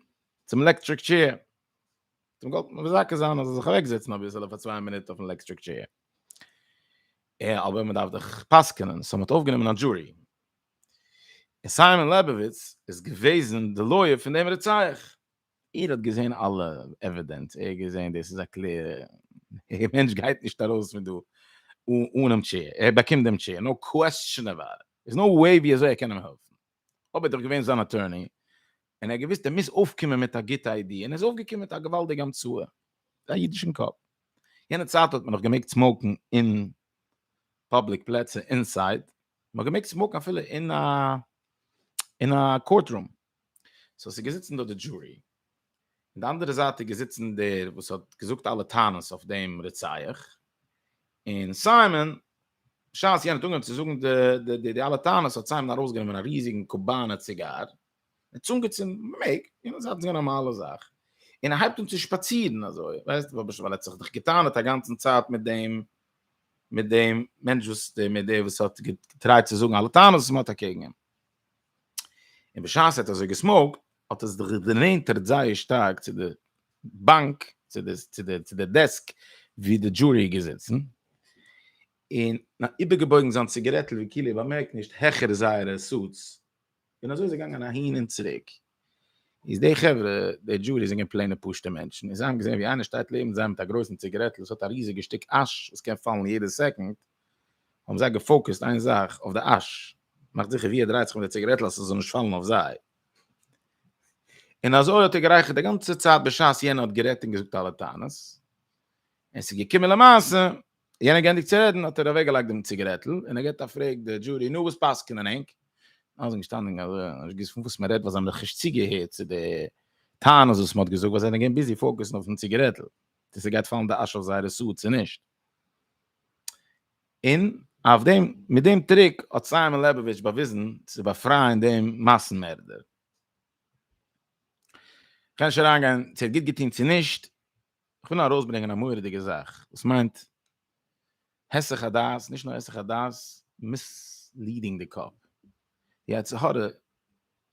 צום לעקטריק טשעיר, מ'האט אים געוואלט מזכה זיין אז ער זאל זיך אוועק זעצן אביסעלע פאר צוויי מינוט אויפן לעקטריק טשעיר, אבער מ'דארף דאך פסק'ענען, סאו מ'האט אויפגענומען א דזשורי, און סיימאן לעבאוויץ איז געוועזן די לויער פון דעם רוצח. ער האט געזען אלע עווידענס, ער האט געזען דאס איז א קלער, דער מענטש גייט נישט ארויס פון דא אנעם טשעיר, ער באקומט דעם טשעיר, נאו קוועסטשען אבאוט איט, ס'איז נאו וועי ווי אזוי ער קען אים העלפן, אויב איז דאך געווען זיין אטורני, און ער האט געוואוסט ער מוז אויפקומען מיט א גוטע איידיע, און ער איז אויפגעקומען מיט א געוואלדיגע המצאה, א אידישן קאפ, יענע צייט האט מען נאך געמעגט סמאוקן אין פובליק פלעצער אינסייד, מ'האט געמעגט סמאוקן אפילו אין א אין א קאורט רום, סאו ס'איז געזיצן דארט די דזשורי, און די אנדערע זייט איז געזיצן דער וואס האט געזאגט אלע טענות אויף דעם רוצח, און סיימאן, בשעת יענער האט אנגעהויבן צו זאגן די די אלע טענות האט סיימאן ארויסגענומען א ריזיגן קובאנער ציגאר, ער צונג איצט אין מעג, און עס האט זיך גענומען אלע זאך. און ער הייבט אן צו שפאצירן אזוי, ווייסט, ווייל ער האט זיך דאך געטענה'ט א גאנצן צייט מיט דעם, מיט דעם מענטש וואס דער מיט דער וואס האט געטרייט צו זאגן אלע טענות וואס מען האט אקעגן אים. און בשעת ער האט אזוי געסמאוקט, האט עס זיך גענענטערט זייער שטארק צו די באנק, צו די, צו די, צו די דעסק וואו די דזשורי איז געזיצן, און איבערגעבויגן זיין ציגערעטל ווי כאילו ער באמערקט נישט העכער זייערע סוטס, און אזוי איז ער געגאנגען אהין און צוריק. איז די חברה, די דזשורי זענען פלעינע פשוטע מענטשן, און זיי האבן געזען ווי איינער שטייט לעבן זיי מיט א גרויסן ציגערעטל וואס האט א ריזיגע שטיק אש וואס קען פאלן יעדע סעקונד, האבן זיי געפאוקעסט איין זאך, אויף די אש, מאכט זיכער ווי ער דרייט זיך מיט די ציגערעטל אז ס'זאל נישט פאלן אויף זיי. און אזוי האט ער גערייכערט די גאנצע צייט בשעת יענער האט גערעדט און געזאגט אלע טענות, און ס'איז געקומען למעשה יענער גענדיגט צו רעדן האט ער אוועק געלייגט דעם ציגערעטל און ער געט א פרעג די דזשורי נו וואס פסק'נען ענק? אלע זענען געשטאנען אזוי און נישט געוויסט פון וואס מען רעדט ווייל זיי האבן דאך נישט צוגעהערט צו די טענות וואס מען האט געזאגט ווייל זיי זענען געווען ביזי פאוקעסן אויפן ציגערעטל צו ס'גייט פאלן די אש אויף זייערע סוד צו נישט. און אויף דעם מיט דעם טריק האט סיימאן לעבאוויטש באוויזן צו באפרייען דעם מאסן מערדער. כ'קען נישט אריינגיין צו ער האט גוט געטון צו נישט, איך וויל ארויסברענגען א מורא'דיגע זאך וואס מיינט היסח הדעת, נישט נאר היסח הדעת, מיסליעדינג די קאפ. די יצר הרע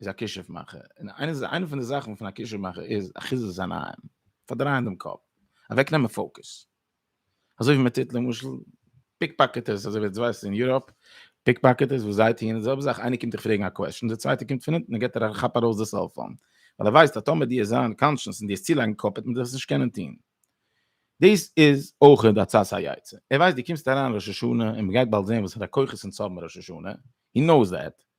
איז א כישוף מאכער, און איינע פון די זאכן פון א כישוף מאכער איז אחיזת עיניים, פארדרייען דעם קאפ, אוועקנעמען פאוקוס. אזוי ווי מען טוט למשל פיקפאקעטערס אזוי ווי דו ווייסט אין יוראפ פיקפאקעטערס וואס זיי טוען די זעלבע זאך איינער קומט דיך פרעגן א קוועסטשן דער צווייטער קומט פון אונטן און געבט דיר א כאפ ארויס די סעלפאון ווייל ער ווייסט אז טאמער דו וועסט זיין קאנשעס און דו וועסט צולייגן קאפ וועט מען דיך עס נישט קענען טון דאס איז אויך די עצת היצר ער ווייסט דו קומסט אריין ראש השנה און מען גייט באלד זען וואסערע כוחות אונז האבן ראש השנה he knows that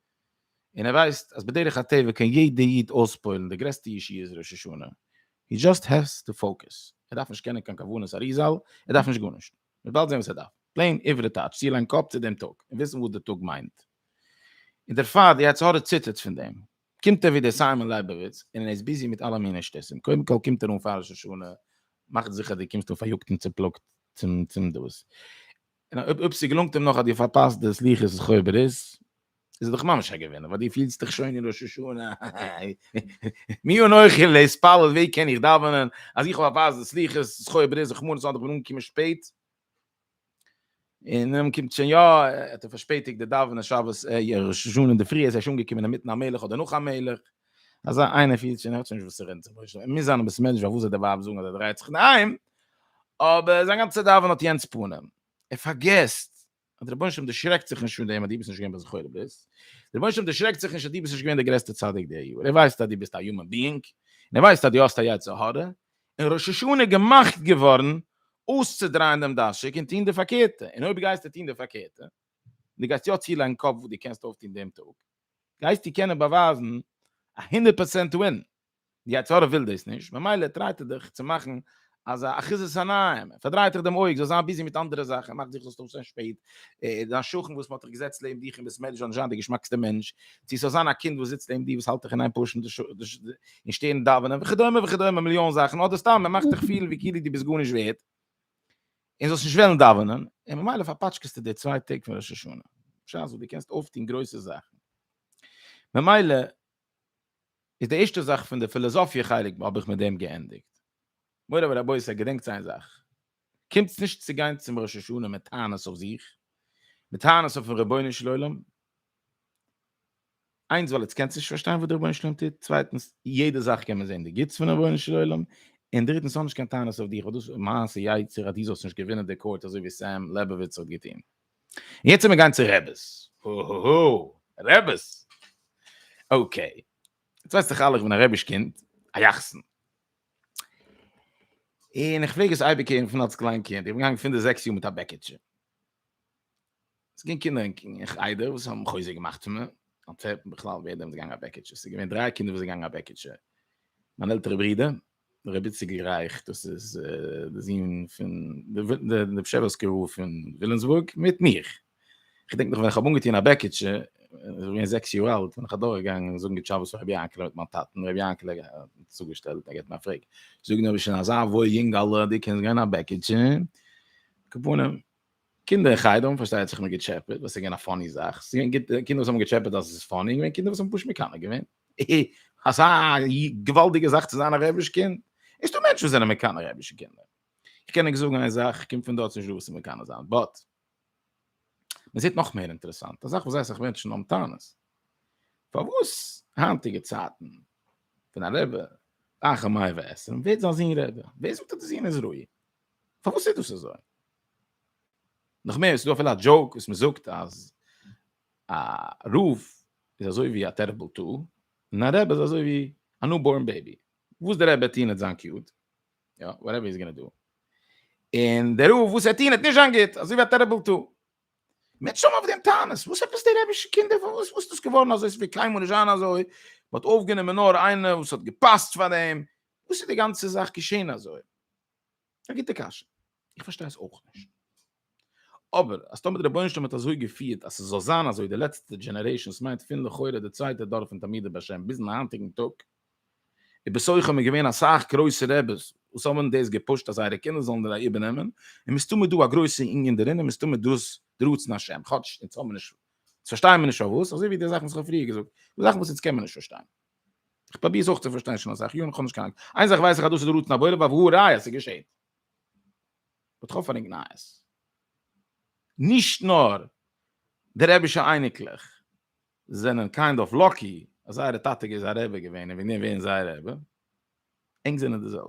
און ער ווייסט אז בדרך הטבע קען יעדע איד אויספוילן די גרעסטע ישיבות ראש השנה, הי דזשאסט העז טו פאוקעס, ער דארף נישט קענען קיין כוונת אריזל, ער דארף נישט גארנישט, מען וועלט זען וואס ער דארף, פלעין עברי טייטש, צוליין קאפ צו דעם טאג, און וויסן וואס די טאג מיינט. און דערפאר די יצר הרע ציטערט פון דעם. קומט ער ווי דער סיימאן לייבאוויץ, און ער איז ביזי מיט אלע מיני שטותים, קודם כל קומט ער אן פאר ראש השנה, מאך זיכער די קומסט אן פאריאגט און צופלאגט צום דאס, און אויב ס'געלונגט אים נאך אז דו פארפאסט די סליחות איז חוה ברית, איז ער דאך ממש א געווינער, ווייל דו פילסט דיך שוין אין ראש השנה, מי אנכי להתפלל, ווי קען איך דאווענען אז איך האב פארפאסט די סליחות איז חוה ברית, רחמנא ליצלן איך בין אנגעקומען שפעט, און און קומט שוין יא, האט ער פארשפעטיגט די דאווענען שבת ראש השנה אינדערפרי, עס איז שוין אנגעקומען אינמיטן המלך אדער נאך המלך. אזא איינער פילט שוין ער'ט שוין נישט וואס ער רעדט זיך נישט און מוז זיין א בית מדרש פארוואס זאל די ווייב זאגן אז ער דרייט זיך אין היים, אבער זיין גאנצע דאווענען האט יענץ פנים, ער פארגעסט אז דער רבונו של עולם דערשרעקט זיך נישט פון דעם אז דו ביסט נישט געווען ביי זכור לברית, דער רבונו של עולם דערשרעקט זיך נישט אז דו ביסט נישט געווען דער גרעסטער צדיק די יאר, ער ווייסט אז דו ביסט א יומען ביאינג, און ער ווייסט אז דו האסט א יצר הרע, און ראש השנה איז געמאכט געווארן אויסצודרייען דעם דאשיק און טון די פארקערטע, און אויב גייסטו טון די פארקערטע, דו גייסט יא צולייגן קאפ וואס דו קענסט אויפטון דעם טאג, גייסטו קענען באווייזן א הונדערט פראצענט ווין? די יצר הרע וויל דאס נישט, ממילא טרייט ער דיך צו מאכן אזא אחיזת עיניים, ער פארדרייט דיך דעם אויג, זאלסט זיין ביזי מיט אנדערע זאכן, ער מאכט זיך זאלסט אויפשטיין שפעט, דיין שכן וואס מען האט דיך געזעצט לעבן דיך און ביסט מער נישט וועלן זיין די געשמאקסטע מענטש, צו ס'זאל זיין א קינד וואס זיצט לעבן דיר וואס האלט דיך אין איין פארשן די און שטערן דאווענען וכדומה וכדומה מיליאן זאכן, אדער סתם ער מאכט דיך פילן ווי כאילו דו ביסט גארנישט ווערד. און זאלסט נישט וועלן דאווענען, און ממילא פארפאטשקעסטו די צוויי טעג פון ראש השנה, בשעת וואס דו קענסט אויפטון גרויסע זאכן. ממילא איז די ערשטע זאך פון די פילאזאפיע חלק האב איך מיט דעם געענדיגט. מורי ורבותי, געדענקטס איין זאך, קומטס נישט צו גיין צום ראש השנה מיט טענות אויף זיך, מיט טענות אויפ'ן רבונו של עולם, איינס ווייל עטס קענטס נישט פארשטיין וואס דער רבונו של עולם טוט, צווייטנס יעדע זאך קען מען זען די גוטס פון דער רבונו של עולם, און דריטנס האב נישט קיין טענות אויף דיך, דאס מעשה יצר אז דו זאלסט נישט געווינען די קאורט אזוי ווי סעם לעבאוויטץ האט געטון. און יעצט מיר גיין צו רעבעס. הוהוהו. רעבעס. אקעי. יעצט ווייסט דאך אלע איך בין א רעביש קינד. א יחסן. און איך פלעג עס אייביג הערן פון אלס קליין קינד. איך בין געגאנגען פון די זעקס יאר מיט א בעקיטשע. עס געווען קינדער אין חדר וואס האבן חוזק געמאכט פון מיר, אנטווערפן בכלל ווער דעם איז געגאנגען א בעקיטשע, עס איז געווען דריי קינדער וואס זענען געגאנגען א בעקיטשע, מיין עלטערע ברודער, ר' איציק רייך, דאס איז די זון פון די פשעווארסקע רב פון וויליאמסבורג, מיט מיך. איך געדענק נאך ווען איך האב אנגעטון א בעקיטשע, איך בין געווען זעקס יאר אלט, בין איך אדורכגעגאנגען זאגן גוט שבת פאר ר' יענקעלע מיט מיין טאטן, ר' יענקעלע האט מיר צוגעשטעלט, ער געבט מיר א פרעג, זאג נאר ביסט שוין אזא וואויל יונגעלע, דו קענסט גיין א בעקיטשע? כפנים. קינדער אין חדר האבן פארשטייט זיך מער געטשעפעט, וואס איז געווען א פאני זאך, ס'איז געווען קינדער וואס האבן געטשעפעט אז עס איז פאני, און געווען קינדער וואס האבן פשוט מקנא געווען. אזא געוואלדיגע זאך צו זיין א רבי'ש קינד, נישט דא מענטשן וואס זענען מקנא רבי'שע קינדער. איך קען ענק זאגן איין זאך, איך קום פון דארט, ס'איז נישט דא וואס צו מקנא זיין, באט מען זעט נאך מער אינטערעסאנט, א זאך וואס זייער אסאך מענטשן האבן טענות, פארוואס היינטיגע צייטן ווען א רבי רחמיו ועסם ווערט זיין זון רבי, ווער זאגט אז די זון איז ראוי? פארוואס איז דאס אזוי? נאך מער, ס'דא אפילו א דזשאוק וואס מ'זאגט אז א רב איז אזוי ווי א טעריבל טול, און א רבי איז אזוי ווי א ניו בארן בעיבי. וואס דער רבי וועט טון וועט זיין קיוט, יא, וואטעווער איז גאנא דא. און דער רב וואס וועט טון וועט נישט זיין גוט, אזוי ווי א טעריבל טול. מיט שום אויף דעם טענות, וואס עפעס די רעבישע קינדער, וואס איז דאס געווארן אזוי, ס'וועט קיינמאל נישט זיין אזוי, מ'האט אויפגענומען נאר איינער וואס האט געפאסט פאר דעם, וואס איז די גאנצע זאך געשען אזוי? א גוטע קשיא, איך פארשטיי עס אויך נישט. אבער אז טאמער דער רבונו של עולם האט אזוי געפירט אז ס'זאל זיין אזוי די לעצטע דזשענערעישאן, ס'מיינט פון לכאורה די צווייטע דור פון תלמידי בעל שם ביזן היינטיגן טאג, און בסך הכל האבן געווען אסאך גרויסע רעבעס וואס האבן דאס געפושט אז זייערע קינדער זאלן דאס איבערנעמען, און מסתמא דא א גרויסע ענין דערין און מסתמא דאס די רצון השם, כאטש אונז האבן מיר נישט, אונז פארשטייען מיר נישט פארוואס, אזוי ווי די זאכן וואס איך האב פריער געזאגט, די זאכן וואס אונז קען מען נישט פארשטיין. איך פראביר עס אויך צו פארשטיין שוין אסאך יארן, איך האב נישט קיין אנונג. איין זאך ווייס איך אז דאס איז די רצון הבורא, בה והא ראיה, עס איז געשען. באט איך האב פארענגט נייעס. נישט נאר די רבי'שע אייניקלעך זענען קיינד אף לאקי אז זייערע טאטע איז א רבי געווען און וועגן דעם ווערן זיי רבי, ענק זענען די זעלבע.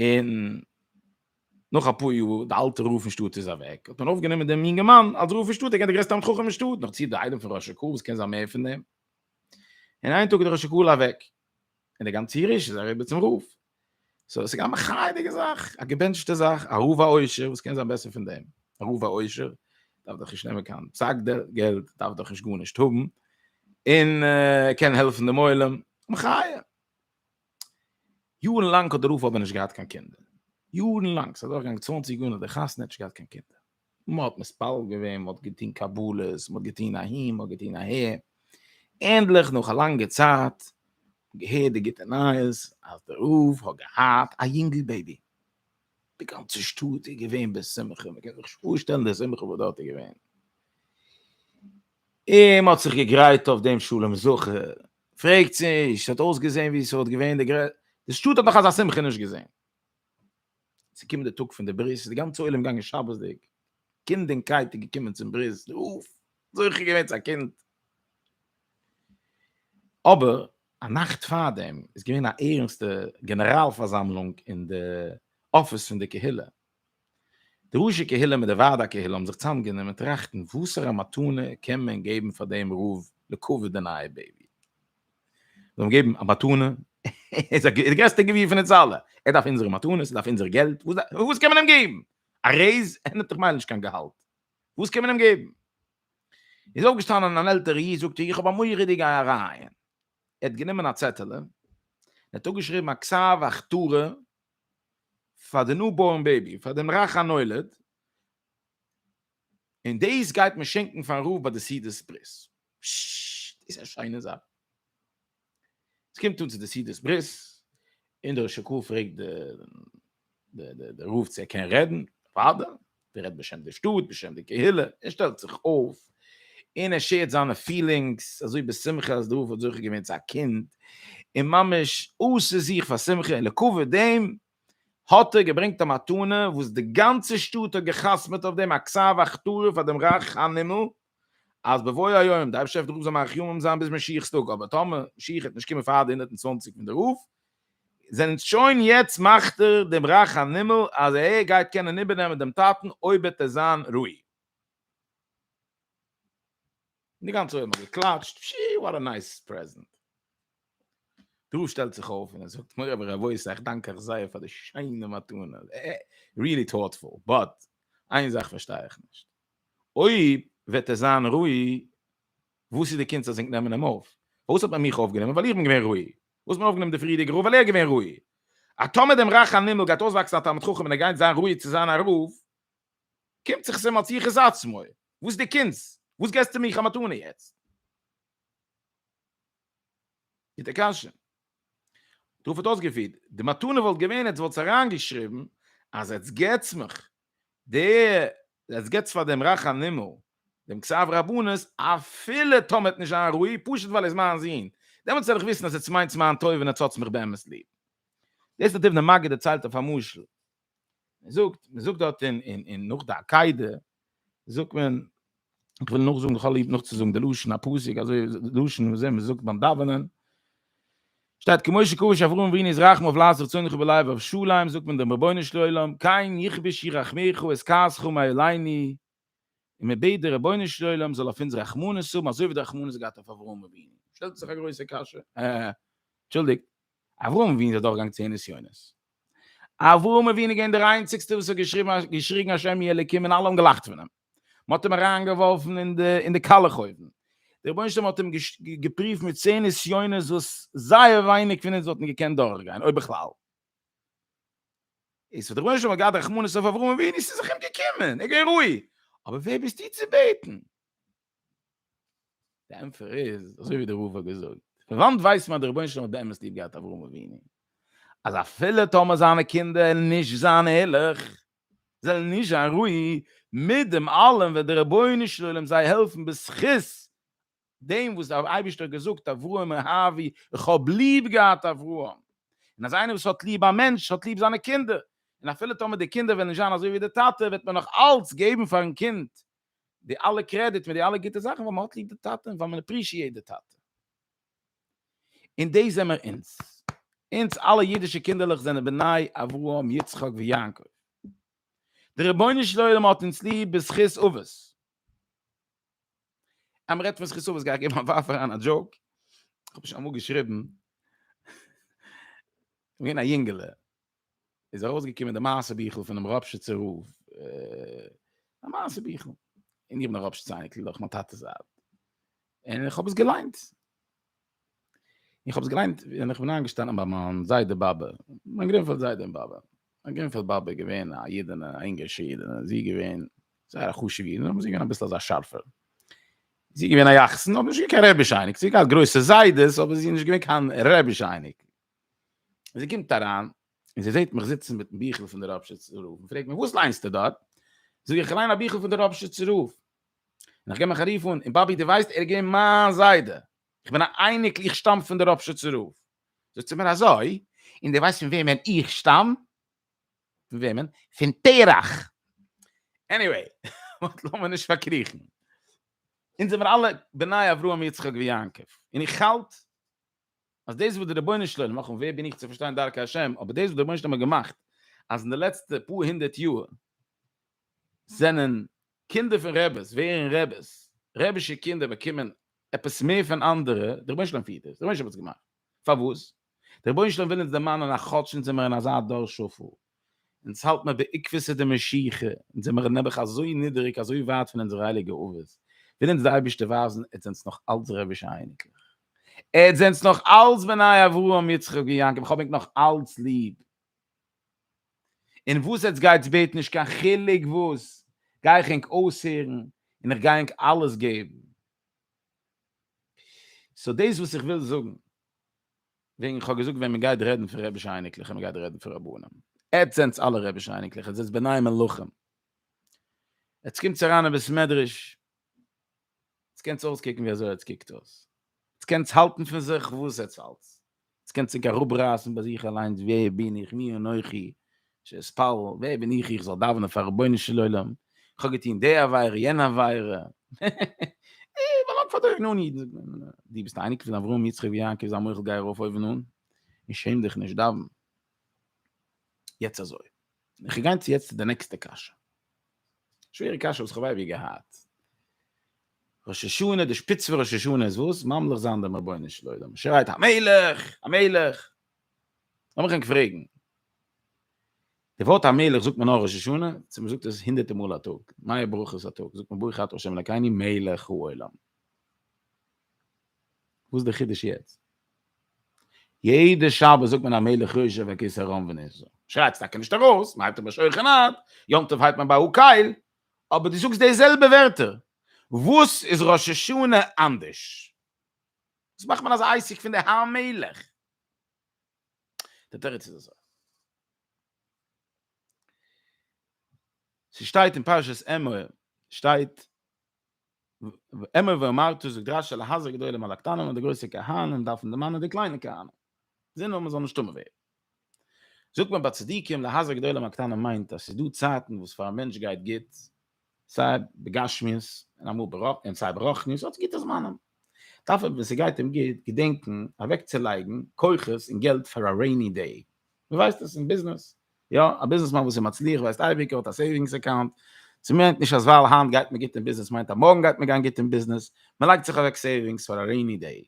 און נאך א פאר יאר, די אלטע רב פון שטאט איז אוועק, האט מען אויפגענומען דעם יונגערמאן אלס רב פון שטאט, ער געווען דער גרעסטער תלמיד חכם אין שטאט, נאך צו די איידעם פון ר' אשר קאהל וואס קען זיין מער פון דעם, און איין טאג איז דער ר' אשר קאהל אוועק, און דער גאנצע ירושה איז אריבער צום רב, סאו עס איז געווען א מחייה'דיגע זאך, א געבענטשטע זאך, א רב א עושר, וואס קען זיין בעסער פון דעם, א רב א עושר דארף דאך נישט נעמען קיין פסק ד געלט, דארף דאך נישט גארנישט האבן, און ער קען העלפן דעם עולם, מחיה. יארן לאנג האט דער רב אבער נישט געהאט קיין קינדער. יארן לאנג, ס'איז אדורכגעגאנגען צוואנציג יאר נאך די חתונה האט נישט געהאט קיין קינדער. מ'האט מתפלל געווען, מ'האט געטון קבלות, מ'האט געטון אהין, מ'האט געטון אהער. ענדליך נאך א לאנגע צייט געהערט די גוטע נייעס אז דער רב האט געהאט א יונגל בעיבי. די גאנצע שטאט איז געווען בשמחה, מ'קען זיך נישט פארשטעלן די שמחה וואס דארט איז געווען. און מ'האט זיך געגרייט אויף דעם שלום זכר, פרעגטס נישט, ס'האט אויסגעזען ווי ס'וואלט געווען די גרעסטע, די שטאט האט נאך אזא שמחה נישט געזען. ס'קומט די טאג פון די ברית, ס'איז די גאנצע עולם געגאנגען שבת'דיג, קינד און קייט איז געקומען צום ברית, די הויף זוכה געווען צו א קינד. אבער א נאכט פארדעם איז געווען א ערנסטע גענעראל פארזאמלונג אין די אפיס פון די קהילה, די ראשי קהילה מיט די ועד הקהילה האבן זיך צוזאמגענומען טראכטן וואסערע מתנה קען מען געבן פאר דעם רב לקבר די נייע בעיבי. זיי האבן געגעבן א מתנה, ער איז א גר, די גרעסטע גביר פון אונז אלע, ער דארף אונזערע מתנות, ער דארף אונזער געלט, וואס דארף, וואס קען מען אים געבן? א רעיז? ער נעמט דאך ממילא נישט קיין געהאלט, וואס קען מען אים געבן? איז אויפגעשטאנען אן עלטערע איד, זאגט ער, איך האב א מורא'דיגע ארייען. ער האט גענומען א צעטעלע, ער האט אפגעשריבן א כסא ואכתרא, פאר די ניו בארן בעיבי, פאר דעם רך הנולד, און דאס גייט מען שענקן פארן רב ביי די סעודת ברית. פששש, דאס איז א שיינע זאך. עס קומט אן צו די סעודת ברית, און דער ראש הקהל פרעגט די די די רב צו ער קען רעדן, אוודאי, דער רעדט בשם די שטאט, בשם די קהילה, ער שטעלט זיך אויף, און ער שעירט זיינע פילינגס, אזוי בשמחה אז די רב האט זוכה געווען צו א קינד, און ממש אויסער זיך פאר שמחה, און לכבוד דעם האט ער געברענגט א מתנה וואס די גאנצע שטאט האט גע'חתמ'עט אויף דעם, א כסא והכתרה פאר דעם רך הנמל, אז בבוא היום דארף שפע די רוף זאל מאריך ימים זיין ביז משיח'ס טאג, אבער טאמער משיח וועט נישט קומען פאר די הונדערט און צוואנציג פון די רוף, זענען שוין יעצט מאכט ער דעם רך הנמל אז ער גייט קענען איבערנעמען דעם טאטן אויב וועט ער זיין ראוי. און די גאנצע עולם האט געקלאטשט, פשי, וואט א נייס פרעזענט. דא שטעלט זיך אויף און ער זאגט מורי ורבותי איך דאנק אייך זייער פאר די שיינע מתנה, ריעלי טאטפול, באט איין זאך פארשטיי איך נישט, אויב וועט ער זיין ראוי, וואס איז די קונץ אז ענק נעמען אים אויף? פארוואס האט מען מיך אויפגענומען? ווייל איך בין געווען ראוי. פארוואס האט מען אויפגענומען די פריערדיגע רב? ווייל ער איז געווען ראוי. אז טאמער דעם רך הנימול גייט אויסוואקסן א תלמיד חכם און ער גייט זיין ראוי צו זיין א רב, קומט זיך עס אים אלס יחוס עצמו. וואס איז די קונץ? וואס געסטו מיך א מתנה יעצט? גוטע קשיא. דארף האט אויסגעפירט, די מתנה וואלט געווען עטס וואלטס אריינגעשריבן אז עטס געטס מיך די, עטס געטס פאר דעם רך הנימול דעם כסף רבנות אפילו טאמער ער האט נישט זיין ראי' פשוט ווייל ער איז מיין זון, דעמאלטס וועל איך וויסן אז עטס מיינטס מיין טובה און עטס האטס מיך באמת ליב. דאס האט אבן המגיד דערציילט אויף א משל. מען זאגט מען זאגט דארט אין אין אין נאך די עקידה זאגט מען איך וויל נאך זאגן איך האב ליב נאך צו זאגן די לשון א פאסיק אזוי לשון וואס מען זאגט ביים דאווענען שטייט כמו שקובש אברהם ווין איז רחם אויף לאס רצון איך בלייב אויף שוליים זאגט מען דעם רבונו של עולם קיין יכבש ירחמיך עס כעס חום אייליני און מען בעט די רבונו של עולם זאל אויף אונז רחמנות האבן אזוי ווי דער רחמנות האט געהאט אויף אברהם אבינו, שטעלט זיך א גרויסע קשיא, אה, אנטשולדיגט, אברהם אבינו איז אדורכגעגאנגען צען נסיונות, אברהם אבינו איז געווען דער איינציגסטער וואס האט געשריגן געשריגן השם יהיה אלקים און אלע האבן געלאכט פון אים, מען האט אים אריינגעווארפן אין די אין די קאלעך אויוון, דער רבונו של עולם האט אים געש געפריווט מיט צען נסיונות וואס זייער ווייניג פון אונז וואלטן געקענט דורכגיין, אויב בכלל. איז האט דער רבונו של עולם געהאט רחמנות אויף אברהם אבינו ס'איז זיך אים געקומען, ער איז געווען ראוי, אבער ווער ביסטו צו בעטן? די ענטפער איז אזוי ווי דער רב האט געזאגט, פון וואנט ווייסט מען אז דער רבונו של עולם האט באמת ליב געהאט אברהם אבינו? אז אפילו טאמער זיינע קינדער עלן נישט זיין ערליך, זיי עלן נישט זיין ראוי, מיט דעם אלעם וועט דער רבונו של עולם זיי העלפן בזכות דעם וואס דער אייבערשטער האט געזאגט אברהם אהבי איך האב ליב געהאט אברהם, און אז איינער וואס האט ליב א מענטש האט ליב זיינע קינדער, און אפילו טאמער די קינדער וועלן נישט זיין אזוי ווי די טאטע וועט מען נאך אלץ געבן פארן קינד די אלע קרעדיט מיט די אלע גוטע זאכן ווייל מען האט ליב די טאטע און ווייל מען עפרישיעט די טאטע. און דאס זעמער אונז. אונז אלע אידישע קינדערלעך זענען בני אברהם יצחק ויעקב. דער רבונו של עולם האט אונז ליב בזכות אבות, אז מען רעדט פון זכות אבות גיי איך געבן א ווארף אריין א דזשאוק, איך האב שוין אמאל געשריבן, געווען א יונגעלע, איז ארויסגעקומען די מעשה ביכל פונעם ראפשיצער רב, א מעשה ביכל, און איך בין א ראפשיץ אייניקל דורך מיין טאטע'ס זייט, און איך האב עס געליינט, איך האב עס געליינט ווען איך בין איינגעשטאנען ביי מיין זיידע באבע מיין גרינפעלד זיידע און באבע מיין גרינפעלד באבע איז געווען א אידענע א אינגערשע אידענע זי איז געווען זייער א חשובע אידענע אבער זי איז געווען אביסל אזא שארפע זי איז געווען א יחסן אבער נישט געווען קיין רעביש אייניג זי האט געהאט גרויסע זיידעס אבער זי איז נישט געווען קיין רעביש אייניג זי קומט אריין און זי זעט מיך זיצן מיטן ביכל פון דער ראפשיצער רב און פרעגט מיר וואס ליינסטו דארט זאג איך איך ליין א ביכל פון דער ראפשיצער רב און איך גיי מיך רוף אן, און באבי דו ווייסט ער איז געווען מיין זיידע, איך בין א אייניקל איך שטאם פון די ראפשיצער רב, זאגט זי מיר אזוי, און דו ווייסט פון וועמען איך שטאם? פון וועמען? פון תרח! עניוועי, באט לאמיר נישט פארקריכן, אונז זעמיר אלע בני אברהם יצחק ויעקב, און איך האלט אז דאס וואס די רבונו של עולם, נאכאמאל ווער בין איך צו פארשטיין דרכי השם, אבער דאס וואס די רבונו של עולם האט געמאכט אז אין די לעצטע פאר הונדערט יאר זענען קינדער פון רעבעס ווערן רעבעס, רעבישע קינדער באקומען עפעס מער פון אנדערע, דער רבונו של עולם פירט דאס, דער רבונו של עולם האט עס געמאכט, פארוואס? דער רבונו של עולם וויל אונז דערמאנען אז כאטש אונז זעמער אין אזא דור שפל, אונז האלט מיר בעקבותא דמשיחא, אונז זעמער נעבעך אזוי נידעריג, אזוי ווייט פון אונזערע הייליגע אבות, וויל אונז דער אייבערשטער ווייזן, אונז זענטס נאך אלץ רעבישע אייניקלעך, אונז זענטס נאך אלץ בני אברהם יצחק ויעקב, איך האב ענק נאך אלץ ליב. און וואס עטס גייטס בעטן נישט קיין חילוק וואס, גיי איך ענק אויסהערן און איך גיי ענק אלעס געבן. סאו דאס וואס איך וויל זאגן, וועגן איך האב געזאגט ווען מען גייט רעדן פון רבי'שע אייניקלעך און מען גייט רעדן פון רבנים, עטס זענטס אלע רבי'שע אייניקלעך, עטס זענטס בני מלכים, עטס קומטס אריין אין בית מדרש, עטס קענטס אויסקוקן ווי אזוי עטס קוקט אויס, עטס קענטס האלטן פון זיך וואס עטס האלטס, עטס קענטס זיך אראפרייסן ביי זיך אליינס ווער בין איך מי אנכי שאתפלל, ווער בין איך איך זאל דאווענען פאר רבונו של עולם, איך האב געטון די עבירה יענע עבירה, איך באלאנג פאר די אויבן אן אידן, זאגט מען אים, דו ביסט אייניקל פון אברהם יצחק ויעקב זיי מוחל גיי ארויף אויבן אן און שעם דיך נישט דאווען יעצט אזוי, איך גיין צו יעצט צו די נעקסטע קשיא. שווערע קשיא וואס כ'האב אייביג געהאט. ראש השנה, די שפיץ פון ראש השנה איז וואס? ממליך זיין דעם רבונו של עולם. מען שרייט המלך! המלך! לאמיך ענק פרעגן. די ווארט המלך זאגט מען נאר ראש השנה? צו מען זאגט עס הונדערטע מאל א טאג? מאה ברכות א טאג? זאגט מען ברוך אתה ה' אלקינו מלך העולם. וואס איז די חידוש יעצט? יעדע שבת זאגט מען המלך יושב על כסא רם ונשא. שרייטס טאקע נישט ארויס, מען הייבט אבער שולחן ערוך, יום טוב הייבט מען ביי הקהל, אבער דו זאגסט די זעלבע ווערטער. וואס איז ראש השנה אנדערש? וואס מאכט מען אזא עסק פון די המלך? דער תירוץ איז אזוי. ס'שטייט אין פרשת אמור, שטייט אמר ואמרתי זאגט רשי להזהר גדולים על הקטנים און די גרויסע כהנים דארפן דערמאנען די קליינע כהנים זען נאר מ'זאל נישט טמא ווערן זאגט מען ביי צדיקים להזהר גדולים על הקטנים מיינט אז ס'איז דא צייטן וואס פאר א מענטש גייט גוט סיי בגשמיות און אמאל ברוח און סיי ברוחניות האט גוטע זמנים דארף ער ווען ס'גייט אים גוט געדענקען אוועקצולייגן כוחות און געלט פאר א רעיני דעי דו ווייסט עס אין ביזנעס? יא, א ביזנעסמאן וואס איז מצליח ווייסט אייביג ער האט א סעיווינגס אקאונט, ס'מיינט נישט אז ווייל היינט גייט מיר גוט אין ביזנעס מיינט אז מארגן גייט מיר גיין גוט אין ביזנעס, מען לייגט זיך אוועק סעיווינגס פאר א רעיני דעי.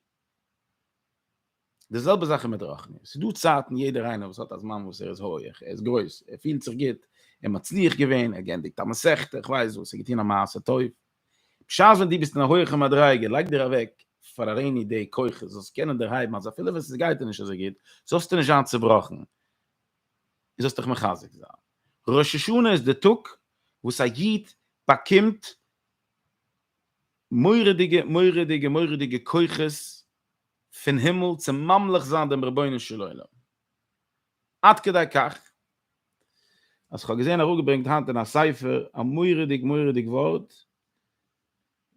די זעלבע זאך איז מיט רוחניות, ס'איז דא צייטן יעדער איינער וואס האט א זמן וואס ער איז הויעך, ער איז גרויס, ער פילט זיך גוט, ער מצליח געווען, ער האט געענדיגט א מסכת, איך ווייס וואס, ער האט געטון א מעשה טוב, בשעת ווען דו ביסט אין א הויעכע מדריגה, לייג דיר אוועק פאר א רעיני דעי כוחות, זאלסט קענען דערהייבן אז אפילו ווען עס גייט דיר נישט אזוי גוט, זאלסטו נישט זיין צובראכן, און זאלסט דיך מחזק זיין. ראש השנה איז די טאג וואס א איד באקומט מורא'דיגע מורא'דיגע מורא'דיגע כוחות פון הימל צו ממליך זיין דעם רבונו של עולם. עד כדי כך אז איך האב געזען אראפגעברענגט היינט אין א ספר א מורא'דיג מורא'דיג ווארט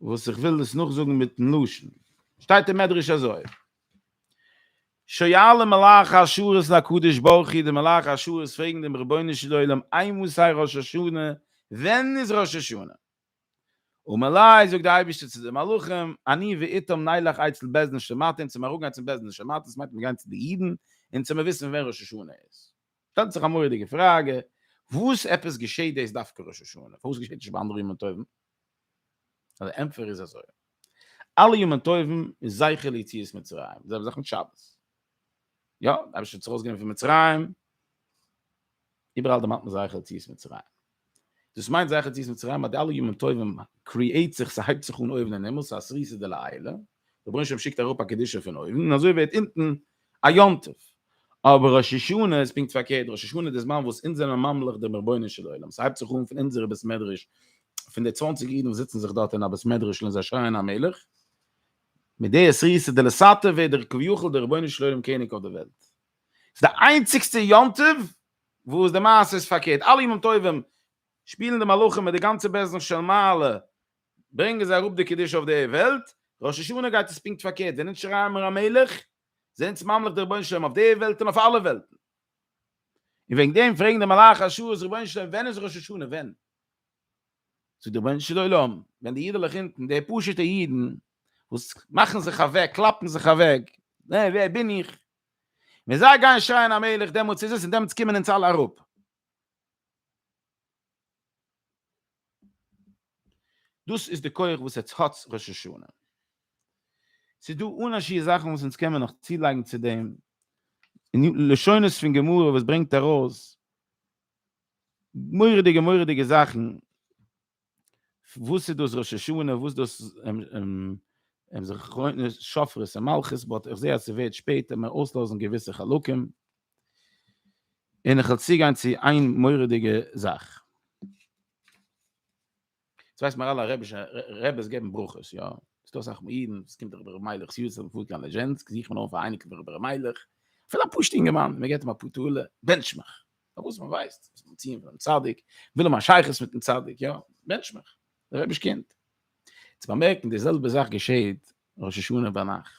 וואס איך וויל דאס נאכזאגן מיטן לשון, שטייט אין מדרש אזוי, שואל מלאך השרת את הקדוש ברוך הוא, די מלאך השרת פרעגן דעם רבונו של עולם, איי מוסאי ראש השנה, ווען איז ראש השנה? ומלאי זאגט די אייבישטער צו די מלאכים אני ואיתם נלך אצל בית דין של מתים צו מיר אראפגיין צום בית דין של מתים ס'מיינט מיר גיין צו די אידן און צו מיר וויסן ווען ראש השנה איז שטעלט זיך א מורא'דיגע פראגע וואס עפעס געשעהט דאס דווקא ראש השנה פארוואס געשעהט נישט ביי אנדערע ימים טובים די ענטפער איז אזוי אלע ימים טובים איז זכר ליציאת מצרים זיי האבן זיך מיט שבת יא, דער אייבערשטער האט זיך אויסגענומען פון מצרים, איבעראל דערמאנט מען זייער יציאת מצרים, דאס מיינט זייער יציאת מצרים אז די אלע ימים טובים קריעט זיך, ס'הייבט זיך אן אויבן אין הימל, ס'איז א סריסא דלעילא, דער רבונו של עולם שיקט אראפ א קדושה פון אויבן, און אזוי ווערט אונטן א יום טוב, אבער ראש השנה איז פונקט פארקערט, ראש השנה איז די זמן וואס אונז זענען ממליך דעם רבונו של עולם, ס'הייבט זיך אן פון אונזערע בית מדרש, פון די צוואנציג אידן וואס זיצן זיך דארט אין א בית מדרש'ל און זיי שרייען המלך, מיט די עשרי סעודה לסאטע ווערט דער כביכול דער רבונו של עולם קעניג אויף דער וועלט. ס'איז די איינציגסטע יום טוב וואס די מעשה איז פארקערט, אלע ימים טובים שפילן די מלאכים מיט די גאנצע בעסטן של מעלה, ברענגען זיי אראפ די קדושה אויף די וועלט, ראש השנה גייט עס פונקט פארקערט, ווען אונז שרייען מיר המלך, איז אונז ממליך דער רבונו של עולם אויף די וועלט און אויף אלע וועלטן. און וועגן דעם פרעגן די מלאכי השרת, רבונו של עולם ווען איז ראש השנה, ווען? צו די רבונו של עולם, ווען די אידעלעך אונטן, די פשוט'ע אידן, וואס מאכן זיך אוועק, קלאפן זיך אוועק, אה, ווער בין איך? ווען זיי גייען שרייען המלך, דעמאלטס איז עס, און דעמאלטס קומען אונז אלע אראפ. דאס איז די כח וואס עטס האטס ראש השנה. ס'איז דא אן א שיעור זאכן וואס אונז קענמען נאך צולייגן צו דעם, און לשונות פון גמרא וואס ברענגט ארויס, מורא'דיגע מורא'דיגע זאכן, וואס איז דאס ראש השנה, וואס איז דאס זכרונות שופרות און מלכות, באט איך זע אז ס'ווערט שפעט, העמער אויסלאזן געוויסע חלקים, און איך וועל צוגיין צו איין מורא'דיגע זאך. דאס ווייסט מען אלע אראבישע רעבעס געבן ברכות יא ס'איז דא אסאך אידן וואס קומט דאך דער מיילעך ס'יו ס און מ'פארט קיין ליזשענסק זוכט מען אויף א אייניקל פון דער מיילעך אפילו א פשוט'ע אינגערמאן מ'געבט אים א פאר טאלער בענטשמעך פארוואס מען ווייסט וואס מ'וועט טון פאר'ן צדיק מ'וויל האבן א שייכות מיט'ן צדיק יא בענטשמעך דער רעביש קינד צו באמערקן די זעלבע זאך געשעהט ראש השנה ביינאכט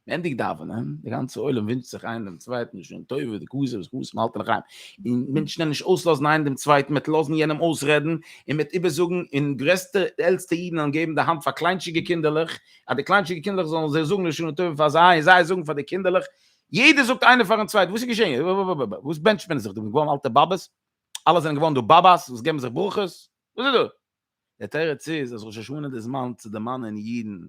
ענדיגט דאווענען, די גאנצע עולם ווינטשט זיך איין דעם צווייטן שנה טובה, די קאזע וואס חתן האלט אין חיים, און מען קען נישט אויסלאזן איינער דעם צווייטן, מען וועט לאזן יענעם אויסרעדן, און מען וועט איבערזאגן, און גרעסטע און עלטסטע אידן וועלן געבן די האנט פאר קליינטשיגע קינדערלעך, אז די קליינטשיגע קינדערלעך זאלן זיי זאגן א שנה טובה פאר זיי, און זיי זאגן פאר די קינדערלעך, יעדער זאגט איינער פאר'ן צווייטן, וואס איז געשען, וואס בענטשט מען זיך דא, מ'איז געווארן אלטע באבעס, אלע זענען געווארן דא באבעס וואס געבן זיך ברכות, וואס איז דא? דער תירוץ איז אז ראש השנה איז די זמן צו דערמאנען אידן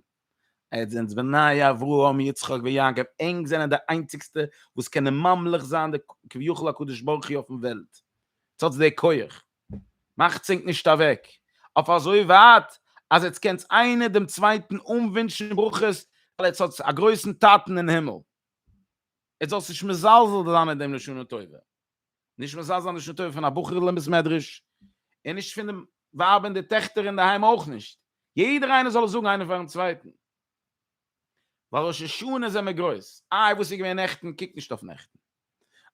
אז אונז בניי אברהם יצחק ויעקב ענק זענען די איינציגסטע וואס קענען ממליך זיין די כביכול הקדוש ברוך הוא אויפן וועלט, עטס האטס די כח, מאכטס ענק נישט אוועק אויף אזוי ווייט אז עטס קענטס איינער דעם צווייטן אנווינטשן ברכות ווייל עטס האטס א גרויסן טאטן אין הימל, עטס זאלסט נישט מזלזל זיין אין דעם לשנה טובה. נישט מזלזל אין די שנה טובה פון א בחור'ל אין בית מדרש, און נישט פון די ווייב און די טעכטער אינדערהיים אויך נישט, יעדער איינער זאל עס זאגן איינער פארן צווייטן, ווייל ראש השנה זעמער גרויס, איי וואס איז געווען נעכטן, קוק נישט אויף נעכטן,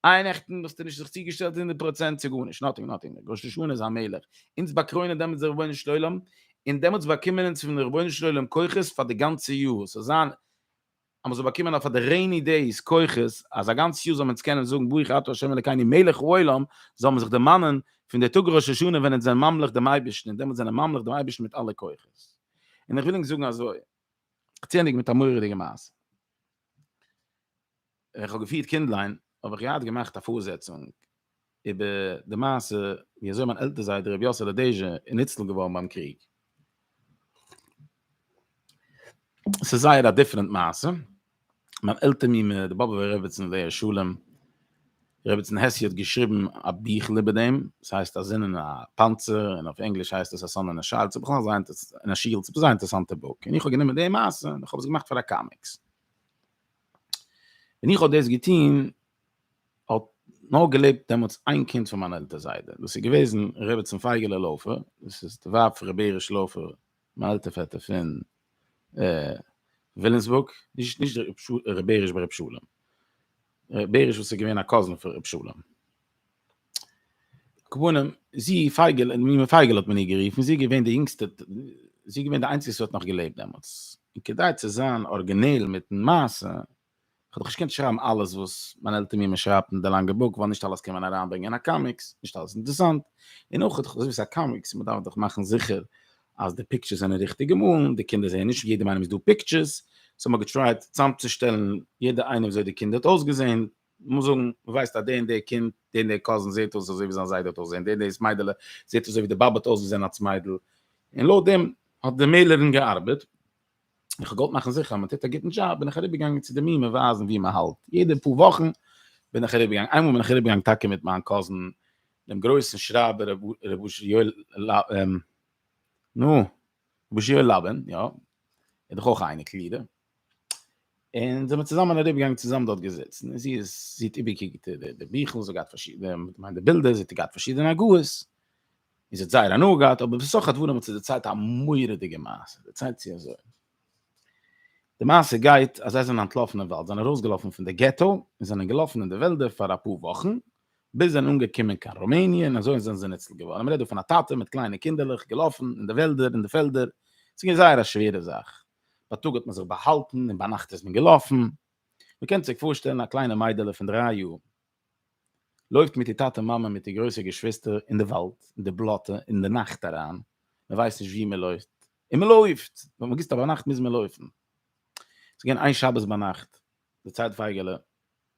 איי נעכטן האסטו נישט זיך צוגעשטעלט הונדערט פראצענט צו גארנישט, נאטינג נאטינג, ראש השנה איז א מלך, אונז באקרוינען דעמאלטס דער רבונו של עולם, און דעמאלטס באקומען אונז פון רבונו של עולם כוחות פאר די גאנצע יאר, ס'זאל זיין אז מען זאל באקומען אויף פאר די רעיני דעיס כוחות, אז א גאנץ יאר זאל מען אונז קענען זאגן ברוך אתה ה' אלקינו מלך העולם, זאל מען זיך דערמאנען פון די טאג ראש השנה ווען אונז זענען ממליך דעם אייבערשטן, און דעמאלט זענען מיר ממליך דעם אייבערשטן מיט אלע כוחות. און איך וויל ענק זאגן אזוי, צוענדיגן מיט א מורא'דיגע מעשה. ווען איך האב געפירט קינדליין, האב איך געהאט געמאכט א פארזעצונג, איבער די מעשה ווי אזוי מיין עלטער זיידע רבי יאסעלע דעזשע איז ניצל געווארן ביים קריג. עס איז זייער א דיפרענט מעשה. מיין עלטער מיר מיט די באבובער רעבעצין עליה השלום, רעבעצין העשי' האט געשריבן א ביכל איבער דעם, עס הייסט א זון אין א פאנצער, און אויף ענגליש הייסט עס א סאן אין א שיעלד, עס איז בכלל זייער אין א שיעלד, עס איז א זייער אינטערעסאנטע בוק, און איך האב גענומען די מעשה און איך האב עס געמאכט פאר א קאמיקס. ווען איך האב דאס געטון האט נאר געלעבט דעמאלטס איין קינד פון מיין עלטער זיידע, דאס איז געוועזן רעבעצין פייגעלע לאופער, דאס איז די ווייב פון ר' בעריש לאופער, מיין עלטער פעטער פון ווילימסבורג, נישט נישט ר' בעריש ביי ר' שלום, ר' בעריש וואס איז געווען א קאזין פון ר' שלום. כוואנעם, זי פייגעלע, מומע פייגעלע האט מען איר גערופן, זי איז געווען די יונגסטע, זי איז געווען די איינציגסטע וואס האט נאך געלעבט דעמאלטס, און כדי צו זיין ארגינעל מיטן מעשה, כ'האב דאך נישט געקענט שרייבן אלעס וואס מיין עלטער מיר מען שרייבט אין די לאנגע בוק ווייל נישט אלעס קען מען אריינברענגען אין א קאמיקס, נישט אלעס איז אינטערסאנט, און אויך איך האב געזעהן ס'איז א קאמיקס מען דארף דאך מאכן זיכער אז די פיקטשערס זענען ריכטיג געמאלן, די קינדער זעהן נישט אין יעדעם איינעם איז דא פיקטשערס, סאו מ'האט געטרייט צאמצושטעלן יעדע איינע וויאזוי די קינד האט אויסגעזעהן, מ'מוז זאגן מ'ווייסט אז דער און דער קינד, דער און דער קאזין זעהט אויס אזוי ווי זיין זיידע האט אויסגעזעהן, דער און דאס מיידעלע זעהט אויס אזוי ווי די באבע האט אויסגעזעהן אלס מיידל, און לויט דעם האט די מעלערין געארבעט. איך האב געוואלט מאכן זיכער אז מען טוט א גוטן דזשאב, בין איך אריבערגעגאנגען צו די מימען ווייזן ווי מען האלט, יעדע פאר וואכן בין איך אריבערגעגאנגען, איינמאל בין איך אריבערגעגאנגען טאקע מיט מיין קאזין דעם גרויסן שרייבער ר' אשר יואל, נו, ר' אשר יואל לאבין, יא, ער איז דאך אויך א אייניקל אידער, און זעמיר צוזאמען אריבערגעגאנגען צוזאמען דארט געזיצן, און זי איז, זי האט איבערגעקוקט די ביכל, זי האט געהאט פארשידענע, כ'מיין די בילדער, זי האט געהאט פארשידענע הגהות, איז האט זייער הנאה געהאט, אבער בסך הדברים האט זי דערציילט א מורא'דיגע מעשה, דערציילט זי אזוי, די מעשה גייט אז זיי זענען אנטלאפן אין וואלד, זענען ארויסגעלאפן פון די געטא און זענען געלאפן אין די וועלדער פאר אפאר וואכן, ביז זענען אנגעקומען קיין רומעניע און אזוי זענען זיי ניצל געווארן, מ'רעדט דא פון א טאטע מיט קליינע קינדערלעך געלאפן אין די וועלדער און די פעלדער, ס'איז געווען זייער א שווערע זאך, בייטאג האט מען זיך באהאלטן און ביינאכט איז מען געלאפן, מ'קען זיך פארשטעלן א קליינע מיידעלע פון דריי יאר, לויפט מיט איר טאטע מאמע מיט איר גרויסע געשוויסטער אין די וואלד אין די בלאטע אין די נאכט אריין מען ווייסט נישט ווי מען לויפט און מען לויפט ווען מען גיסט א ביינאכט מוז מען לויפן ס'איז געווען איין שבת ביינאכט די צייט פייגעלע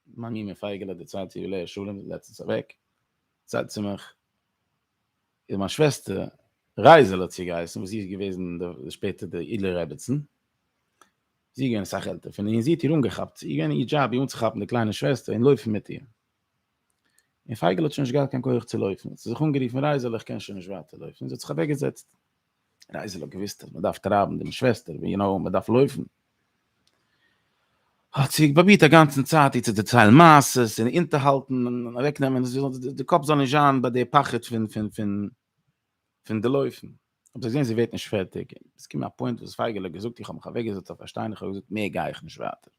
מיין מומע פייגעלע די צייט יבלע שלום לעצטנס אוועק צייט צומח. איז מיין שוועסטער רייזעלע צו געהייסן וואס זי איז געוועזן שפעטער די אידלער רעביצן, זי איז געווען אסאך עלטער פון איר און זי האט איר אנגעכאפט, ס'איז געווען איר דזשאב איר אנצוכאפן די קליינע שוועסטער און לויפן מיט איר, און פייגעלע האט שוין נישט געהאט קיין כח צו לויפן, האט זי זיך אנגערופן רייזעלע איך קען שוין נישט ווייטער לויפן און זי האט זיך אוועקגעזעצט. רייזעלע האט געוואוסט אז מען דארף טרייבן דעם שוועסטער ווי נאר מען דארף לויפן, האט זי פראבירט א גאנצן צייט איר צו דערציילן מעשות און אונטערהאלטן און אוועקנעמען זי זאל די קאפ זאל נישט זיין ביי די פחד פון פון פון פון די לויפן, האט זי געזען זי ווערט נישט פערטיג, עס איז געקומען א פוינט וואס פייגעלע האט געזאגט איך האב מיך אוועקגעזעצט אויף א שטיין איך האב געזאגט מער גיי איך נישט ווייטער.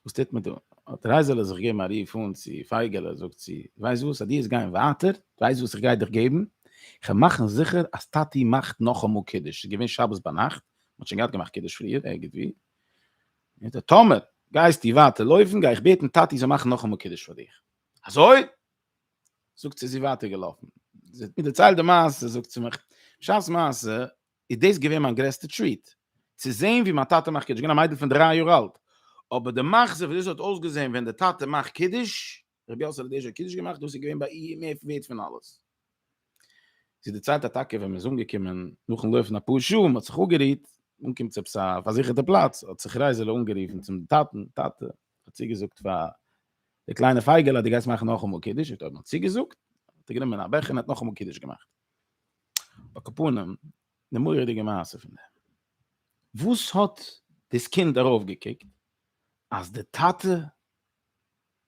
וואס טוט מען דא? האט רייזעלע זיך געגעבן א רוף אן צו פייגעלע, זאגט זי, ווייסט וואס, אז דו וועסט גיין ווייטער, ווייסט וואס איך גיי דיך געבן? איך וועל מאכן זיכער אז טאטי מאכט נאכאמאל קידוש, ס'איז געווען שבת ביינאכט, מ'האט שוין געהאט געמאכט קידוש פריער ערגעץ וואו, זאגט ער, טאמער גייסטו ווייטער לויפן, גיי איך בעטן טאטי זאל מאכן נאכאמאל קידוש פאר דיך. אזוי? זאגט זי, איז זי ווייטער געלאפן, זי האט מיר דערציילט די מעשה, זאגט זי מיך, בשעת מעשה איז דאס געווען מיין גרעסטע טריעט, צו זען ווי מיין טאטע מאכט קידוש, געווען א מיידל פון דריי יאר אלט, אבער די מחזה ווי דאס האט אויסגעזען ווען די טאטע מאכט קידוש, רבי יאסעלע דעיזש האט קידוש געמאכט, דאס איז געווען ביי איר מער ווערט פון אלעס. זי דערציילט אז טאקע ווען מען איז אנגעקומען, נאכן לויפן אפאר שעה, מען האט זיך אפגערוהט, אנגעקומען צו עפעס א פארזיכערטע פלאץ, האט זיך רייזעלע אנגערופן צום טאטן, טאטע, איך האב צוגעזאגט פאר די קליינע פייגעלע אז דו גייסט מאכן נאכאמאל קידוש, ער האט אויב נאר צוגעזאגט, האט ער גענומען א בעכער און ער האט נאכאמאל קידוש געמאכט. אקאפנים, די מורא'דיגע מעשה פון דעם, וואס האט דאס קינד ארויף געקוקט אז די טאטע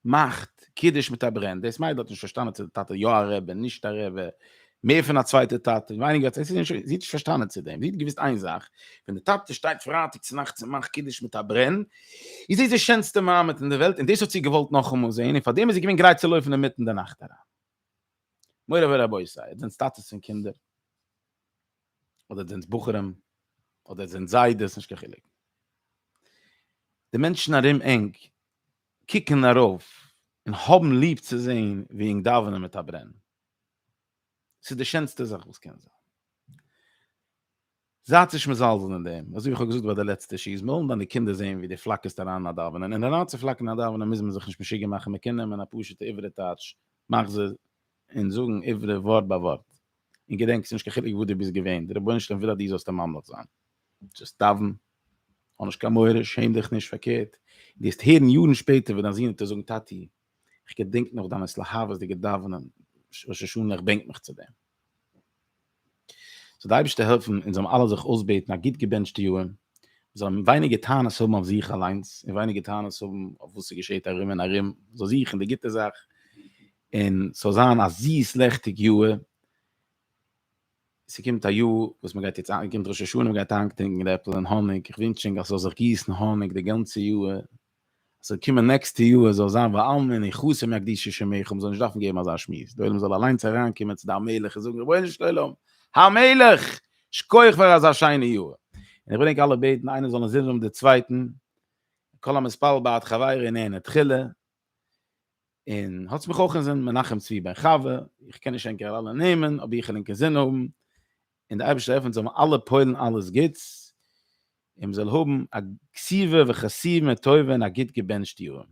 מאכט קידוש מיט א ברען, דאס מיידל האט נישט פארשטאנען צו די טאטע יא א רבי נישט א רבי, מער פון א צווייטע טאטע ווייניגער, זי האט נישט פארשטאנען צו דעם, זי האט געוואוסט איין זאך, ווען די טאטע שטייט פרייטאג צו נאכטס און מאכט קידוש מיט א ברען, איז דאס די שענסטע מעמד אין די וועלט, און דאס האט זי געוואלט נאכאמאל זען, און פארדעם איז זי געווען גרייט צו לויפן אינמיטן די נאכט אריין. מורי ורבותי, איר זענטס טאטעס פון קינדער, אדער איר זענטס בחורים, אדער איר זענטס זיידעס, נישט קיין חילוק. די מענטשן ארום ענק קוקן ארויף און האבן ליב צו זען ווי ענק דאווענען מיט א ברען. ס'איז די שענסטע זאך וואס קען זיין. זייט נישט מזלזל אין דעם, אזוי ווי כ'האב געזאגט ביי די לעצטע שיעור, מ'וועלן דיינע קינדער זען ווי דו פלאקערסט אריין א דאווענען, און אריינצופלאקערן א דאווענען מוז מען זיך נישט משוגע מאכן, מ'קען נעמען א פשוט'ע עברית טייטש מחזור און זאגן עברית ווארט ביי ווארט, און געדענק ס'נישט קיין חילוק וואו דו ביסט געווען, דער רבונו של עולם וויל אז דו זאלסט עם ממליך זיין. זאלסט דאווען, האב נישט קיין מורא, שעם דיך נישט, פארקערט, דו וועסט הערן יארן שפעטער ווען דיין זון וועט דיר זאגן טאטי, איך געדענק נאך דאמאלס להבות'דיגע דאווענען ראש השנה איך בענק מיך צו דעם. זאל די אייבערשטער העלפן אונז זאלן אלע זיך אויסבעטן א גוט געבענטשטע יאר, מיר זאלן ווייניגער טענות האבן אויף זיך אליינס און ווייניגער טענות האבן אויף וואס עס געשעט ארום און ארום, מען זאל זוכן די גוטע זאך און ס'זאל זיין א זיס לעכטיג יאר. ס'קומט א יאר וואס מ'גייט יעצט אהן, קומט ראש השנה מ'גייט איינקטינקען די עפל אין האניג, איך ווינטש ענק אז ס'זאל זיך גיסן האניג די גאנצע יאר, ס'זאל קומען נעקסטע יאר זאל זיין וואו אלמען און חתן מהקדושה שמעכם זאלן נישט דארפן געבן אזא שמועס, די עולם זאל אליינס אריינקומען צו די המלך און זאגן רבונו של עולם המלך שכוח פאר אזא שיינע יאר, און איך וויל ענק אלע בעטן איינער זאל נישט זינדען אויף די צווייטן, כל המתפלל בעד חברו נהנה תחילה. און האטס מיך אויך אינזין מנחם צבי בן חוה, איך קען נישט ענקער אלע נעמען, אבער איך ענקער זין האבן, און די אייבישטער עפענט זיי אלע פוילן אלעס גוטס, און מ'זאל האבן א קציבה וחסימה טובה און א גוט געבענטשט יאר.